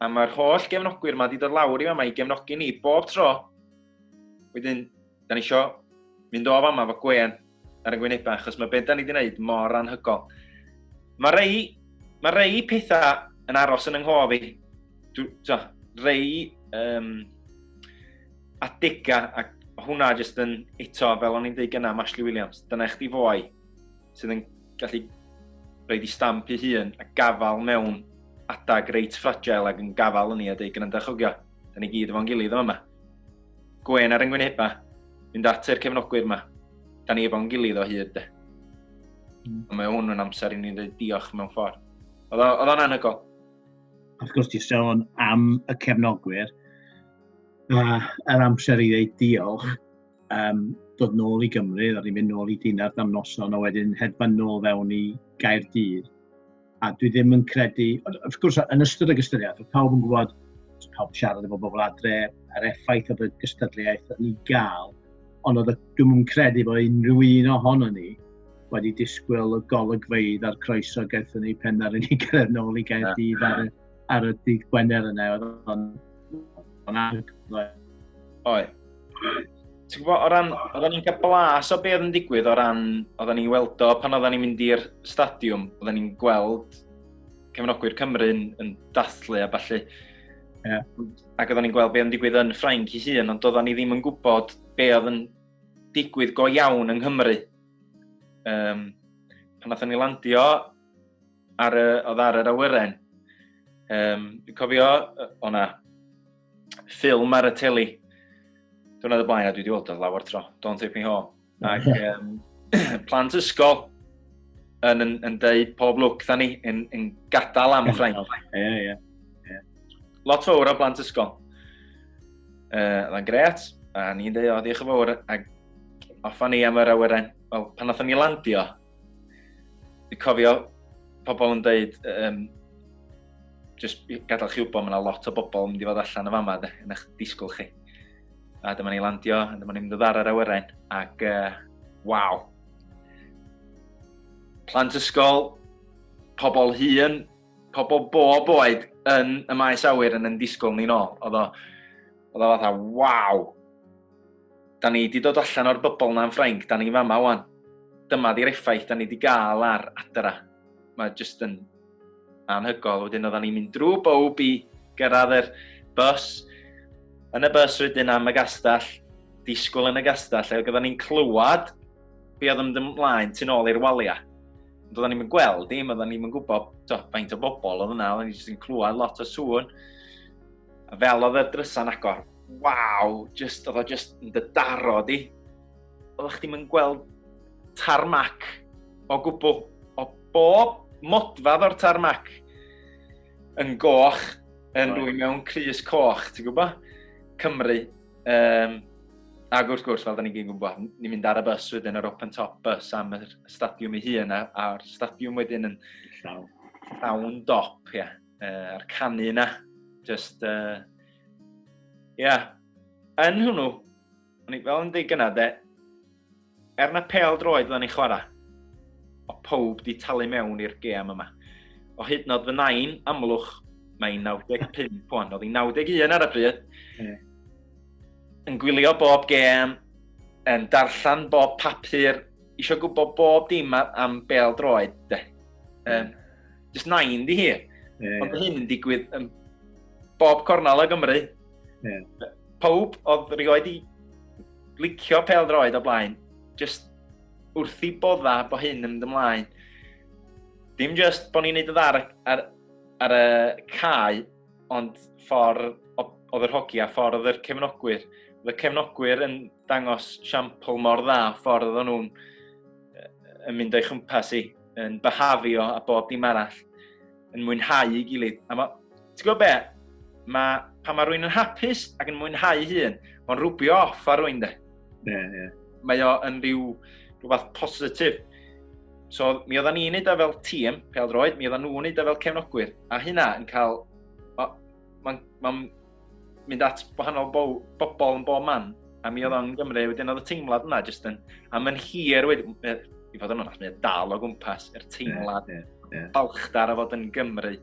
A mae'r holl gefnogwyr yma wedi dod lawr i fama i gefnogi ni bob tro. Wedyn, da ni isio mynd o fama fo gwen ar y gwynebau, achos mae beth da ni wedi gwneud mor anhygol. Mae rei, mae rei pethau yn aros yn ynghof i. Dw, dw, rei um, Attica, a hwnna jyst yn eto, fel o'n i'n dweud gyna, Ashley Williams, dyna eich di fwy sydd yn gallu rhoi di stamp i hun a gafal mewn adag reit fragile ac yn gafal yn ni a dweud gyda'n dychogio, da ni gyd efo'n gilydd yma. Gwen ar yngwyneba, mynd at yr cefnogwyr yma, da ni efo'n gilydd o hyd. Mm. Ond mae hwn yn amser i ni ddweud diolch mewn ffordd. Oedd o'n anhygol. Wrth gwrs, ti'n sôn am y cefnogwyr, A yr amser i ddeud diolch, um, dod nôl i Gymru, a ni'n mynd nôl i Dinard am noson, a wedyn hedfan nôl fewn i Gaerdydd. A dwi ddim yn credu, wrth gwrs, yn ystod y gystyriaeth, pawb yn gwybod, pawb siarad efo bobl adre, yr effaith oedd y gystadleuaeth yn ei gael, ond oedd dwi'n yn credu bod unrhyw un ohono ni wedi disgwyl y golygfeidd a'r croeso gaethon ni pen ar i ni gyrraedd nôl i Gaerdydd ar y ar y dydd Gwener yna, oedd o'n o'n anhygoel. Oi. Ti'n gwybod, o ran, oedden ni'n cael blas o beth yn digwydd o ran, oedden ni'n weld o pan oedden ni'n mynd i'r stadiwm, oedden ni'n gweld cefnogwyr Cymru yn, yn dathlu a falle. Yeah. Ac oedden ni'n gweld beth yn digwydd yn Ffrainc i hun, ond oedden ni ddim yn gwybod beth oedd yn digwydd go iawn yng Nghymru. Um, pan oedden ni landio, ar y, oedd ar yr awyren. Um, dwi'n cofio, o na, ffilm ar y teli. Dwi'n y blaen a dwi wedi weld o lawer tro. Don't take me home. Ac um, plant ysgol yn, yn, yn deud pob lwc dda ni yn, yn gadael am Ffrainc. Ie, ie. Lot fawr o blant ysgol. Uh, Dda'n gret, a ni'n deud, o, diolch yn fawr, ac offa ni am yr awyren. Wel, pan oedden ni landio, Dwi'n cofio pobl yn dweud, um, just gadael chi wybod, mae yna lot o bobl yn mynd i fod allan y fama, de, yn eich disgwyl chi. A dyma ni landio, a dyma ni'n mynd ddar ar awyren, ac uh, waw. Plant ysgol, pobl hun, pobl bob oed yn y maes awyr yn yn disgwyl ni'n ôl. Oedd o, oedd o fatha, waw, Da ni 'di dod allan o'r bybl 'na yn Ffrainc, da ni fama 'wan. Dyma 'di'r effaith da ni 'di gael ar adra. Mae jyst yn anhygol. Wedyn oeddan ni'n mynd drwy bob i gyrraedd yr bus, yn y bus wedyn am y gastell, disgwyl yn y gastell, ac oeddan ni'n clywed be oedd yn ymlaen tu'n ôl i'r waliau. Ond oedden ni'n gweld dim, oedden ni'n gwybod faint o bobl oedd yna, oedden ni'n clywed lot o sŵn. A fel oedd y drysa'n agor, waw, just, oedd o just yn dy daro di. Oedd chdi'n mynd gweld tarmac o gwbl, o bob modfad o'r tarmac yn goch, yn right. rwy'n mewn crys coch, ti'n gwybod? Cymru. Um, ac wrth gwrs, fel da ni'n gyd gwybod, ni'n mynd ar y bus wedyn, yr open top bus am y stadiwm ei hun, a'r stadiwm wedyn yn llawn dop, ie. Yeah. uh, a'r canu yna. Just, uh, yeah. Yn hwnnw, o'n i fel yn dweud gyna, de, er na pel droed fan i chwarae, o pob di talu mewn i'r gêm yma. O hyd nod fy nain, amlwch, mae 95 pwan, oedd hi 91 ar y bryd, mm. yn gwylio bob gêm, yn darllen bob papur, eisiau gwybod bob dim am bel droed, de. Um, just nain di hi. Yeah. Ond hyn yn digwydd yn bob cornel o Gymru. Yeah. Pawb oedd rioed i licio pel droed o blaen, just wrth i bodda bo hyn yn mynd ymlaen. Dim just bod ni'n neud y ddar ar, ar y cae, ond ffordd oedd yr hogi a ffordd oedd yr cefnogwyr. Oedd y cefnogwyr yn dangos siampl mor dda ffordd oedd nhw'n yn mynd o'i chwmpas i. yn byhafio a bob dim arall, yn mwynhau i gilydd. A ma, ti'n gwybod be? Ma, pan mae rwy'n yn hapus ac yn mwynhau hun, mae'n rhwbio off ar rwy'n de. Yeah, yeah. Mae o yn rhyw rhywbeth positif. So, mi oedden ni'n neud o fel tîm, pel droed, mi oedden nhw'n neud o fel cefnogwyr, a hynna yn cael... Mae'n ma, ma mynd at wahanol bo bobl yn bob man, a mi oedd o'n Gymru, wedyn oedd y teimlad yna jyst yn, a mae'n hir wedi, i fod yn onast, mae'n dal o gwmpas yr teimlad yeah, yeah, yeah. balchdar a fod yn Gymru,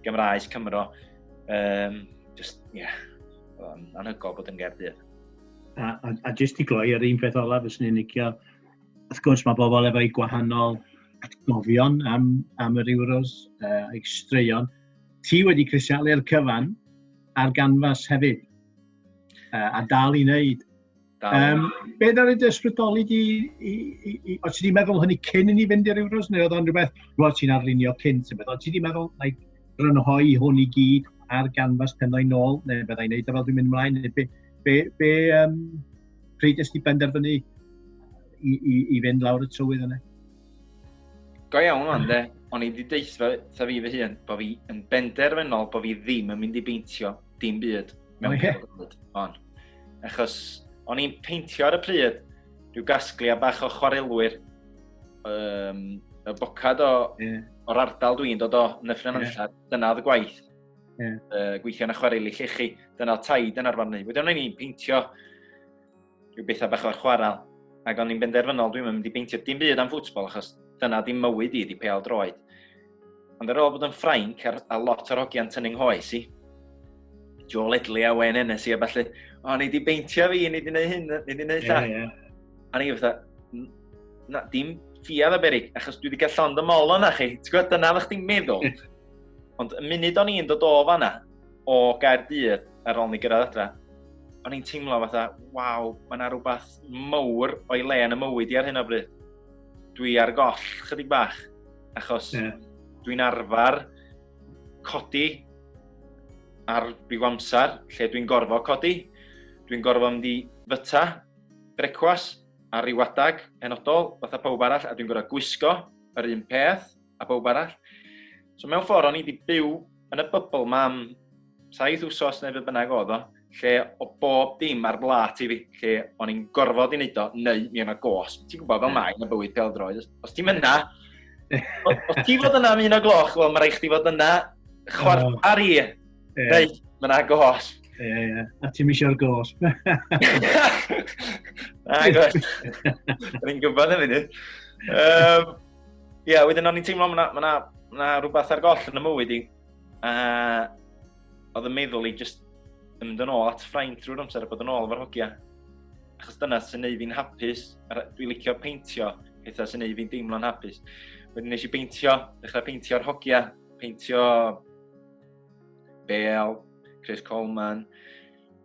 Gymraes, Cymro. Um, just, ie, yeah, o'n anhygol bod yn gerdydd. A, a, a jyst i gloi ar un peth olaf, fes ni'n licio, wrth gwrs mae bobl efo'i gwahanol atgofion am, am yr Euros, uh, a'i straeon, ti wedi crisialu'r cyfan ar ganfas hefyd, uh, a dal i wneud. Um, be ddod i ysbrydoli di, i, i, i, o ti di meddwl hynny cyn i ni fynd i'r Euros, neu oedd o'n rhywbeth, roedd ti'n arlunio cyn, ti'n meddwl, ti di meddwl, like, rynhoi hwn i gyd ar ganfas penau nôl, neu byddai'n neud o fel dwi'n mynd ymlaen, neu be, be, be um, pryd ysdi benderfynu i, i, i fynd lawr y tywydd yna? Go iawn o'n de, o'n i wedi deitha ta fi fy hun, bod fi yn benderfynol bod fi ddim yn mynd i beintio dim byd mewn okay. byd. On. Achos o'n i'n peintio ar y pryd rhyw gasgliau bach o chwarelwyr um, y bocad o, yeah. o'r ardal dwi'n dod o yn y ffrinan yeah. dyna oedd y gwaith. Yeah. Uh, gweithio yn y chwareli llechi, dyna taid yn arfarnu. Wedyn o'n i'n peintio rhyw bethau bach o'r chwarael. Ac o'n i'n benderfynol, dwi'n mynd i beintio dim byd am ffwtbol, achos dyna di mywyd i, di peal droed. Ond ar ôl bod yn ffrainc ar, a lot o'r hogiau'n tynnu'n hoes i, Joe Ledley a Wayne Ennis i a falle, o, ni di beintio fi, ni di wneud hyn, ni di wneud llall. Yeah, yeah. A ni fatha, na, dim ffiad o berig, achos dwi wedi cael llond y mol o'na chi. Ti'n gwybod, dyna ddech chi'n meddwl. Ond y munud o'n i'n dod o fanna, o Gaerdydd ar ôl ni gyrraedd adre, o'n i'n teimlo fatha, waw, mae yna rhywbeth mowr o'i le yn y mywyd i ar hyn o bryd. Dwi ar goll chydig bach, achos yeah. dwi'n arfer codi ar byw amser lle dwi'n gorfod codi. Dwi'n gorfod mynd i fyta, brecwas, ar ryw adag penodol, fatha pawb arall, a dwi'n gorfod gwisgo yr un peth. a bawb arall. So mewn ffordd, o'n i wedi byw yn y bybl ma am saith wsos neu fe bynnag oedd o, lle o bob dim ar blat i fi, lle o'n i'n gorfod i wneud o, neu mi yna gos. Ti'n gwybod fel mae yn y bywyd peldroed, os ti'n mynd na, os ti'n fod yna am un o gloch, wel, mae rhaid chdi fod yna chwarter oh. ar i, yeah. neu mae yna gos. Ie, yeah, ie. Yeah. A ti'n misio'r gos. Na, gos. Rwy'n gwybod am hynny. Um, Ie, yeah, wedyn o'n i'n teimlo mae yna ma rhywbeth ar goll yn y mywyd i. Uh, oedd y meddwl i just yn mynd yn ôl at ffraint drwy'r amser a bod yn ôl efo'r hogia. Achos dyna sy'n neud fi'n hapus. Dwi'n licio peintio pethau sy'n neud fi'n deimlo'n hapus. Wedyn nes i beintio, dechrau peintio'r hogia, peintio Bale, Chris Coleman,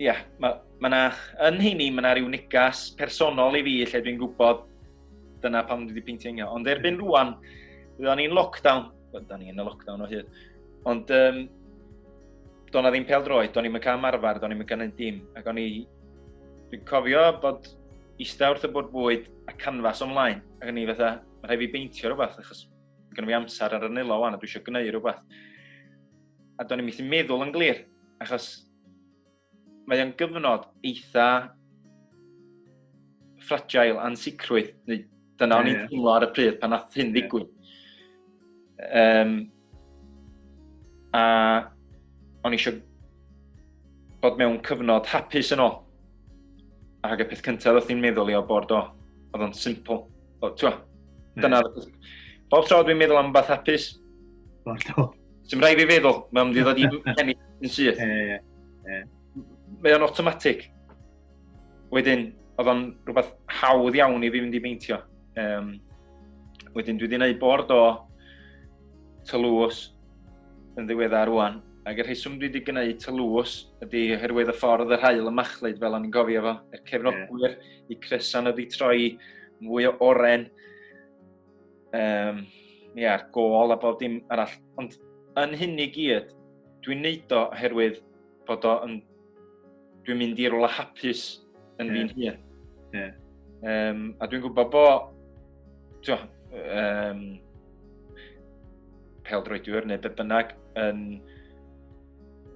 Ie, yeah, mae ma na, yn hynny, mae yna rhyw negas personol i fi lle dwi'n gwybod dyna pam dwi wedi peintio ingio. Ond erbyn hmm. rwan, byddwn ni'n lockdown, byddwn ni'n y lockdown o hyd, ond um, do'n na ddim pel droed, do'n i'n cam arfer, do'n i'n cynnig dim, ac o'n i, dwi'n cofio bod eistedd wrth y bwrdd bwyd a canfas ymlaen, ac o'n i fatha, mae rhaid fi beintio rhywbeth, achos gen i amser ar y nilo wan, a dwi eisiau gwneud rhywbeth. a do'n i'n methu meddwl yn glir, achos mae o'n gyfnod eitha fragile, ansicrwydd, neu dyna yeah, o'n i'n teimlo ar y pryd pan nath hyn ddigwydd. Yeah. Um, a o'n eisiau bod mewn cyfnod hapus yn ôl. Ac y peth cyntaf oedd hi'n meddwl i o bod o, oedd o'n simple. O, ti'n hmm. dyna... Bob tro dwi'n meddwl am beth hapus. Bob tro. Ti'n rhaid fi feddwl, mae'n mynd i ddod i'n penny yn syth. E, e. Mae o'n automatic. Wedyn, oedd o'n rhywbeth hawdd iawn i fi fynd i beintio. Um, wedyn, dwi wedi gwneud bord o tylws yn ddiweddar rwan. Ac y rheswm dwi wedi gwneud tylws ydy oherwydd y ffordd yr hael y machlud fel o'n i'n gofio fo, y cefnogwyr. Yeah. i Cresan oedd i troi mwy o oren. Um, Ie, yeah, gol a bob dim arall. Ond yn hyn i gyd, dwi'n neud o oherwydd bod o yn... Dwi'n mynd i'r ola hapus yn yeah. fi'n hun. Yeah. Um, a dwi'n gwybod bo... Tio, um, peldroediwr neu be bynnag yn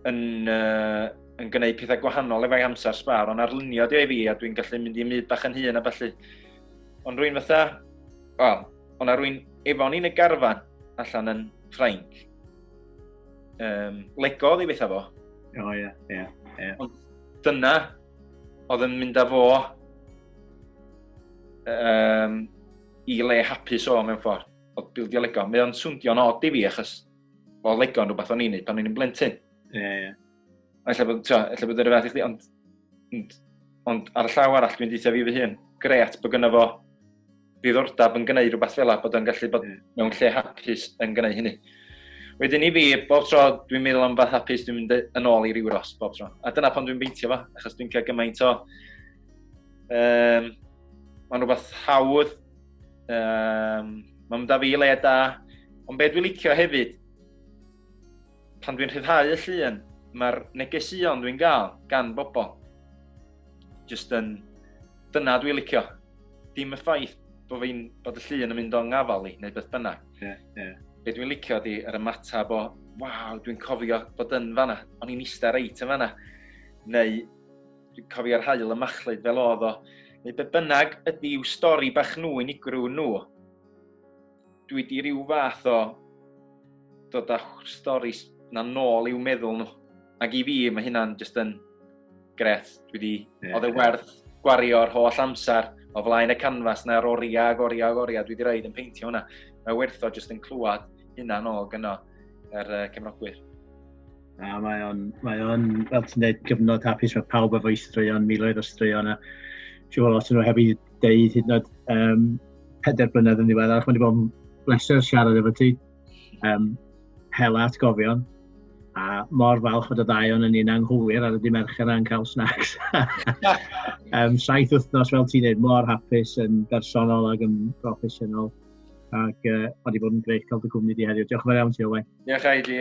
yn, uh, yn gwneud pethau gwahanol efo'i amser sbar, ond arlunio di ei fi a dwi'n gallu mynd i myd bach yn hun a felly. Ond rwy'n fatha, wel, ond a rwy'n efo ni'n y garfan allan yn Ffrainc. Um, Lego oedd ei bethau fo. O, ie, ie, ie. Ond dyna oedd yn mynd â fo um, i le hapus o mewn ffordd, oedd bildio Lego. Mae o'n swndio'n od i fi achos o Lego yn rhywbeth o'n i'n neud pan o'n i'n blentyn. Ie, yeah, ie. Yeah. Alla bod, tio, alla bod yr fath i chdi, ond, ond, ond ar y llaw arall dwi'n deitha fi fy hun, gret bod gynno fo ddiddordeb yn gwneud rhywbeth fel la, bod o'n gallu bod mewn lle hapus yn gwneud hynny. Wedyn i fi, bob tro dwi'n meddwl am fath hapus, dwi'n mynd yn ôl i ryw ros bob tro. A dyna pan dwi'n beintio fo, achos dwi'n cael gymaint o... Um, Mae'n rhywbeth hawdd Um, Mae'n mynd â fi i le da. Ond be dwi'n licio hefyd, pan dwi'n rhyddhau y llun, mae'r negesuon dwi'n gael gan bobl. Just yn... Dyna dwi'n licio. Dim y ffaith bod, fi, bod y llun yn mynd o'n ngafal i, neu beth bynnag. Yeah, yeah. Be dwi'n licio di yr ymateb o, waw, dwi'n cofio bod yn fanna, o'n i'n eistedd reit yn fanna. Neu Dwi'n cofio'r haul y machlud fel oedd o. Neu be bynnag ydy i'w stori bach nhw unigryw nhw. Dwi wedi rhyw fath o dod â stori na nôl i'w meddwl nhw. Ac i fi, mae hynna'n just yn gret. Dwi wedi... Yeah. Oedd e werth gwario'r holl amser o flaen y canfas na'r oriau ag oriau ag oriau dwi wedi rhaid yn peintio hwnna. Mae werth o just yn clywed hynna'n ôl gyno yr uh, cefnogwyr. A mae o'n, mae o'n, fel ti'n dweud, gyfnod hapus, mae pawb efo i straeon, miloedd o straeon, a siw o lot yn nhw heb i ddeud hyd yn oed um, pedair blynedd yn ddiweddar, mae wedi bod yn bleser siarad efo ti, um, hela atgofion, a mor falch fod y ddau o'n yn un anghywir ar y di mercher a'n cael snacks. um, saith wythnos, fel ti'n dweud, mor hapus yn bersonol ac yn broffesiynol. Ac uh, wedi bod yn greu cael dy gwmni di heddiw. Diolch yn fawr iawn ti, Owen. Diolch, Aili.